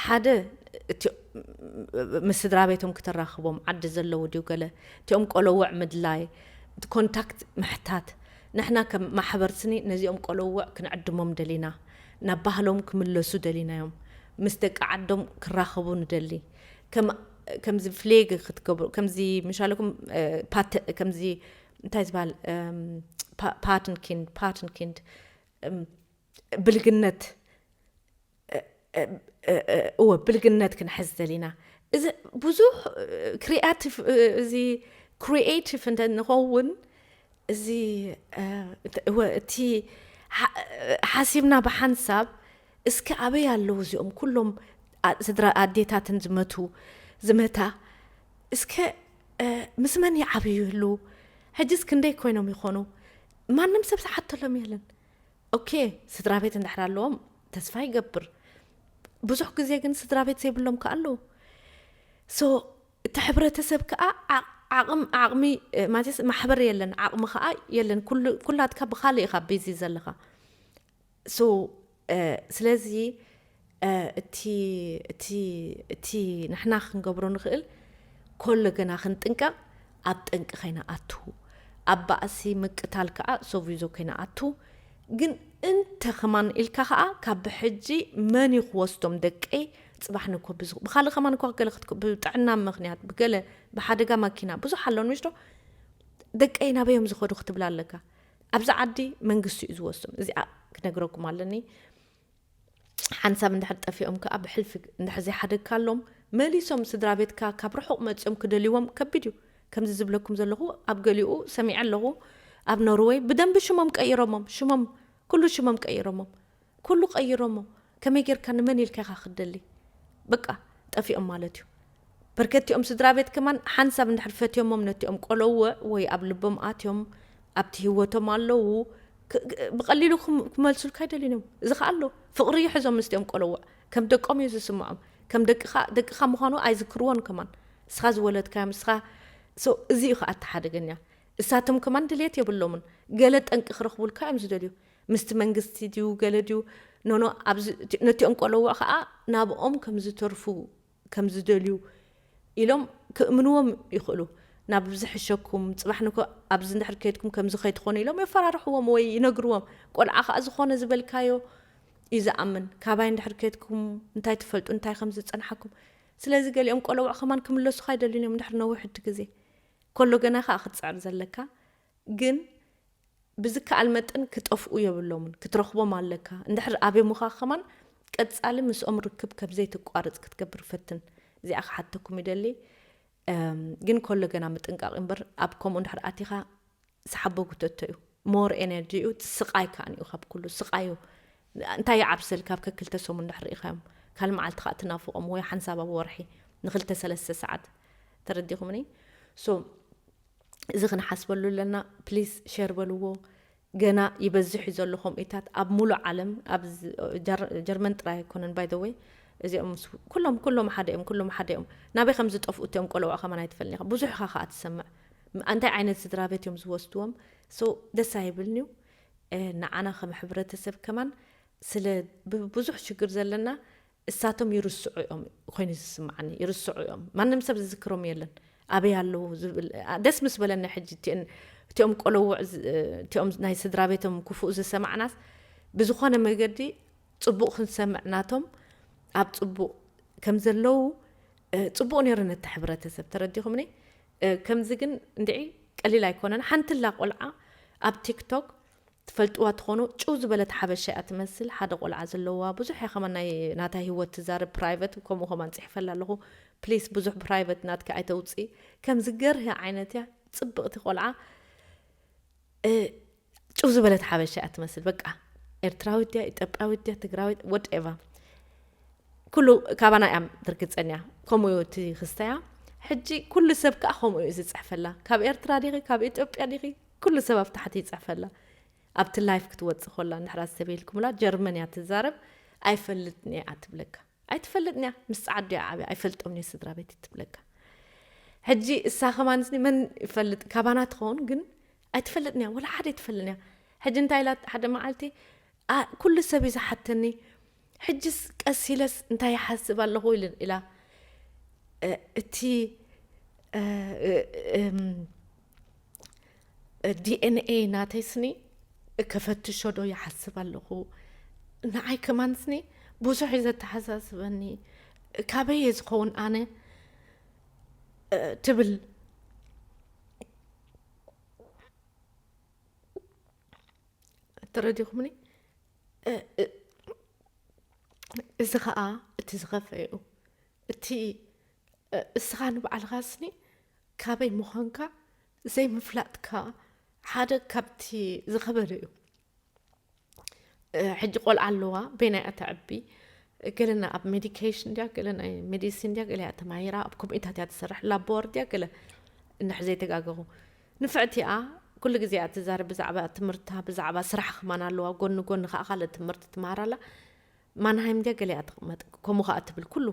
ሓደ እቲ ምስ ስድራቤቶም ክተራኽቦም ዓዲ ዘለዉ ድዩ ገለ እቲኦም ቆሎውዕ ምድላይ ኮንታክት ምሕታት ንሕና ከም ማሕበር ስኒ ነዚኦም ቆሎውዕ ክንዕድሞም ደሊና ናብ ባህሎም ክምለሱ ደሊናዮም ምስ ደቂ ዓዶም ክራኸቡ ንደሊ ከም ከምዚ ፍሌግ ክትገብሩ ከምዚ ምሻለኩም ፓት ከምዚ እንታይ ዝበሃል ፓትንኪንድ ፓትንኪንድ ብልግነት እወ ብልግነት ክንሕዝ ዘሊና እዚ ብዙሕ ክሪኣቲቭ እዚ ክሪኤቲቭ እንተ ንኸውን እዚ እወ እቲ ሓሲብና ብሓንሳብ እስኪ ኣበይ ኣለዉ እዚኦም ኩሎም ስድራ ኣዴታትን ዝመቱ ዝመታ እስከ ምስ መን ይዓብዩ ይህልዉ ሕጅስ ክንደይ ኮይኖም ይኾኑ ማንም ሰብ ዝሓተሎም የለን ኦኬ ስድራቤት እንድሕር ኣለዎም ተስፋ ይገብር ብዙሕ ግዜ ግን ስድራቤት ዘይብሎም ከ ኣለዉ ሶ እቲ ሕብረተሰብ ከዓ ዓቕም ዓቕሚ ማለት ማሕበር የለን ዓቕሚ ከዓ የለን ኩላትካ ብካልእ ኢኻ ቢዚ ዘለኻ ሶ ስለዚ እቲ ንሕና ክንገብሮ ንኽእል ኮሎ ገና ክንጥንቀቕ ኣብ ጠንቂ ከይንኣቱ ኣብ ባእሲ ምቅታል ከኣ ሶቪዞ ከይንኣቱ ግን እንተ ከማን ኢልካ ከኣ ካብ ብሕጂ መን እዩ ክወስዶም ደቀይ ጽባሕ ንኮ ብኻልእ ከማን እኳ ገለ ብጥዕና ምክንያት ብገለ ብሓደጋ ማኪና ብዙሕ ኣሎን ምሽዶ ደቀይ ናበዮም ዝኸዱ ክትብላ ኣለካ ኣብዚ ዓዲ መንግስቲ እዩ ዝወስዶም እዚኣ ክነግረኩም ኣለኒ ሓንሳብ እንድሕር ጠፊኦም ከኣ ብሕልፊ እንድሕር ዘይሓደግካሎም መሊሶም ስድራቤትካ ካብ ርሑቕ መጺኦም ክደልይዎም ከቢድ እዩ። ከምዚ ዝብለኩም ዘለኹ ኣብ ገሊኡ ሰሚዐ ኣለኹ ኣብ ኖርወይ ብደንቢ ሽሞም ቀይሮሞም ሽሞም ኩሉ ሽሞም ቀይሮሞም ኩሉ ቀይሮሞ ከመይ ጌርካ ንመን ኢልካ ኢኻ ክትደሊ በቃ ጠፊኦም ማለት እዩ። በርከቲኦም ስድራቤት ከማን ሓንሳብ እንድሕር ፈትዮሞም ነቲኦም ቆሎውዕ ወይ ኣብ ልቦም ኣትዮም ኣብቲ ሂወቶም ኣሎዉ ብቀሊሉ ክመልሱልካ ኣይደልዩን እዮም እዚ ከኣ ኣሎ ፍቅሪ ይሕዞም ምስቲኦም ቆሎውዕ ከም ደቆም እዩ ዝስምዖም ከም ደቅኻ ደቅኻ ምዃኑ ኣይዝክርዎን ከማን እስኻ ዝወለድካዮም እስኻ እዚ እዩ ከኣ እቲ ሓደገኛ እሳቶም ከማን ድልየት የብሎምን ገለ ጠንቂ ክረኽቡልካ እዮም ዝደልዩ ምስቲ መንግስቲ ድዩ ገለ ድዩ ኖኖ ነቲኦም ቆሎውዕ ከኣ ናብኦም ከም ዝተርፉ ከም ዝደልዩ ኢሎም ክእምንዎም ይኽእሉ። ናብ ዝሕሸኩም፣ ጽባሕ ንግሆ ኣብዚ እንድሕር ከይድኩም ከምዚ ከይትኾኑ ኢሎም የፈራርሕዎም ወይ ይነግርዎም። ቆልዓ ከኣ ዝኾነ ዝበልካዮ እዩ ዝኣምን። ካባይ እንድሕር ከይድኩም እንታይ ትፈልጡ፣ እንታይ ከም ዝጸንሓኩም። ስለዚ ገሊኦም ቆለውዕ ከማን ክምለሱኻ ኣይደልዩን እዮም እንድሕር ነዊሕቲ ግዜ ከሎ ገና ከኣ ክትጽዕር ዘለካ ግን ብዝከኣል መጠን ክጠፍኡ የብሎምን ክትረኽቦም ኣለካ እንድሕር ኣብዮምኻ ከማን ቀጻሊ ምስኦም ርክብ ከብ ዘይተቋርጽ ክትገብር ፈትን እዚኣ ክሓተኩም ይደሊ ግን ከሎ ገና ምጥንቃቕ እምበር ኣብ ከምኡ እንድሕር ኣቲኻ ሰሓቦ ጉተቶ እዩ ሞር ኤነርጂ እዩ ስቃይ ከዓ እዩ ካብ ኩሉ ስቃይ እዩ እንታይ ይዓብሰል ካብ ከክልተ ሰሙን ድሕር ኢኻዮም ካል መዓልቲ ከዓ ትናፍቖም ወይ ሓንሳብ ኣብ ወርሒ ንክልተ ሰለስተ ሰዓት ተረዲኹምኒ ሶ እዚ ክንሓስበሉ ኣለና ፕሊስ ሸር በልዎ ገና ይበዝሕ እዩ ዘሎ ከምኡታት ኣብ ሙሉእ ዓለም ኣብ ጀርመን ጥራይ ኣይኮነን ባይ ወይ እዚኦም ኩሎም ኩሎም ሓደ እዮም ኩሎም ሓደ እዮም ናበይ ከም ዝጠፍኡ እትኦም ቆለዑ ከማን ኣይትፈልኒ ኢኻ ብዙሕ ኢኻ ከዓ ትሰምዕ እንታይ ዓይነት ስድራ ቤት እዮም ዝወስድዎም ሶ ደስ ኣይብልን እዩ ንዓና ከም ሕብረተሰብ ከማን ስለ ብዙሕ ሽግር ዘለና እሳቶም ይርስዑ እዮም ኮይኑ ዝስምዓኒ ይርስዑ እዮም ማንም ሰብ ዝዝክሮም የለን ኣበይ ኣለዉ ዝብል ደስ ምስ በለኒ ሕጂ እቲን እቲኦም ቆለውዕ እቲኦም ናይ ስድራ ቤቶም ክፉእ ዝሰማዕናስ ብዝኾነ መገዲ ጽቡቕ ክንሰምዕ ናቶም ኣብ ጽቡቕ ከም ዘለዉ ጽቡቕ ነይሩ ነቲ ሕብረተሰብ ተረዲኹምኒ ከምዚ ግን እንድዒ ቀሊል ኣይኮነን ሓንትላ ቆልዓ ኣብ ቲክቶክ ትፈልጥዋ ትኾኑ ጭው ዝበለት ሓበሻ እያ ትመስል ሓደ ቆልዓ ዘለዋ ብዙሕ እያ ከማን ናይ ናታ ሂወት ትዛረብ ፕራይቨት ከምኡ ከማን ጽሒፈላ ኣለኹ ፕሊስ ብዙሕ ፕራይቨት ናትኪ ኣይተውጽኢ ከምዚ ገርሂ ዓይነት እያ ጽብቕቲ ቆልዓ ጭው ዝበለት ሓበሻ እያ ትመስል በቃ ኤርትራዊት ድያ ኢትዮጵያዊት ድያ ትግራዊት ወድ ኤቫ ኩሉ ካባና እያ ትርግጸን እያ ከምኡ እዩ እቲ ክስተያ ሕጂ ኩሉ ሰብ ከዓ ከምኡ እዩ ዝጽሕፈላ ካብ ኤርትራ ዲኺ ካብ ኢትዮጵያ ዲኺ ኩሉ ሰብ ኣብ ታሕቲ ይጽሕፈላ ኣብቲ ላይፍ ክትወጽእ ኮላ እንድሕራ ዝተቤልኩምላ ጀርመን እያ ትዛረብ ኣይፈልጥን እየ እያ ትብለካ ኣይትፈልጥን እያ ምስ ጻዓዱ እያ ዓብያ ኣይፈልጦምን እየ ስድራቤት ትብለካ ሕጂ እሳ ከማንስኒ መን ይፈልጥ ካባና ትኸውን ግን ኣይትፈልጥን እያ ወላ ሓደ ኣይትፈልጥን እያ ሕጂ እንታይ ኢላ ሓደ መዓልቲ ኩሉ ሰብ እዩ ዝሓተኒ ሕጅስ ቀስ ኢለስ እንታይ ይሓስብ ኣለኹ ኢላ እቲ ዲኤንኤይ ናተይ ስኒ ከፈትሾ ዶ ይሓስብ ኣለኹ ንዓይ ከማን ስኒ ብዙሕ እዩ ዘተሓሳስበኒ ካበይ እየ ዝኸውን ኣነ ትብል ተረዲኹምኒ እዚ ከዓ እቲ ዝኸፈ እዩ እቲ እስኻ ንባዕልኻስኒ ካበይ ምዃንካ ዘይምፍላጥካ ሓደ ካብቲ ዝኸበደ እዩ ሕጂ ቆልዓ ኣለዋ በይና እያ ተዕቢ ገለና ኣብ ሜዲኬሽን ድያ ገለ ናይ ሜዲሲን ድያ ገለ እያ ተማሂራ ኣብ ኮሚታት እያ ትሰርሕ ላቦር ድያ ገለ እንሕ ዘይተጋገኹ ንፍዕቲ እያ ኩሉ ግዜ እያ ትዛረብ ብዛዕባ ትምህርታ ብዛዕባ ስራሕ ክማን ኣለዋ ጎኒ ጎኒ ከዓ ካልእ ትምህርቲ ትምሃር ኣላ ማንሃይም ገገለ እያ ትቕመጥ ከምኡ ከኣ ትብል ኩሉ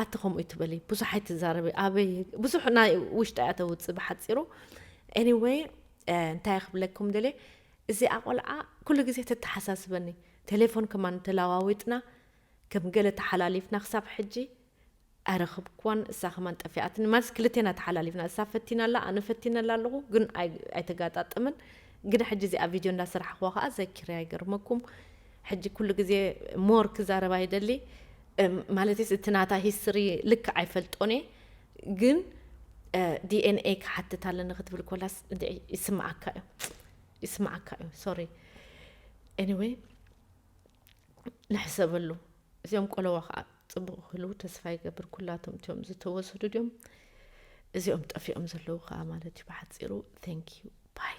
ኣቲ ከምኡ ትበሊ ብዙሕ ኣይትዛረቢ ኣበይ ብዙሕ ናይ ውሽጣ እያ ተውጽእ ብሓጺሩ ኤኒወይ እንታይ ክብለኩም ደልየ እዚኣ ቆልዓ ኩሉ ግዜ ተተሓሳስበኒ ቴሌፎን ከማን ተለዋዊጥና ከም ገለ ተሓላሊፍና ክሳብ ሕጂ ኣይረኽብክዋን እሳ ከማን ጠፊኣትኒ ማለትስ ክልቴና ተሓላሊፍና እሳ ፈቲና ኣላ ኣነ ፈቲነላ ኣለኹ ግን ኣይተጋጣጠመን ግዳ ሕጂ እዚኣ ቪድዮ እንዳ ሰራሕኽዋ ከኣ ዘኪረያ ይገርመኩም ሕጂ ኩሉ ግዜ ሞር ክዛረባ ይደሊ ማለትስ እቲ ናታ ሂስትሪ ልክዕ ኣይፈልጦን እየ ግን ዲኤንኤ ክሓትት ኣለኒ ክትብል ኮላስ ይስምዓካ እዩ ይስምዓካ እዩ ሶሪ ኤኒዌይ ንሕሰበሉ እዚኦም ቆለዋ ከዓ ፅቡቅ ክህልው ተስፋ ይገብር ኩላቶም እትዮም ዝተወሰዱ ድዮም እዚኦም ጠፊኦም ዘለዉ ከዓ ማለት እዩ ብሓፂሩ ዩ ባይ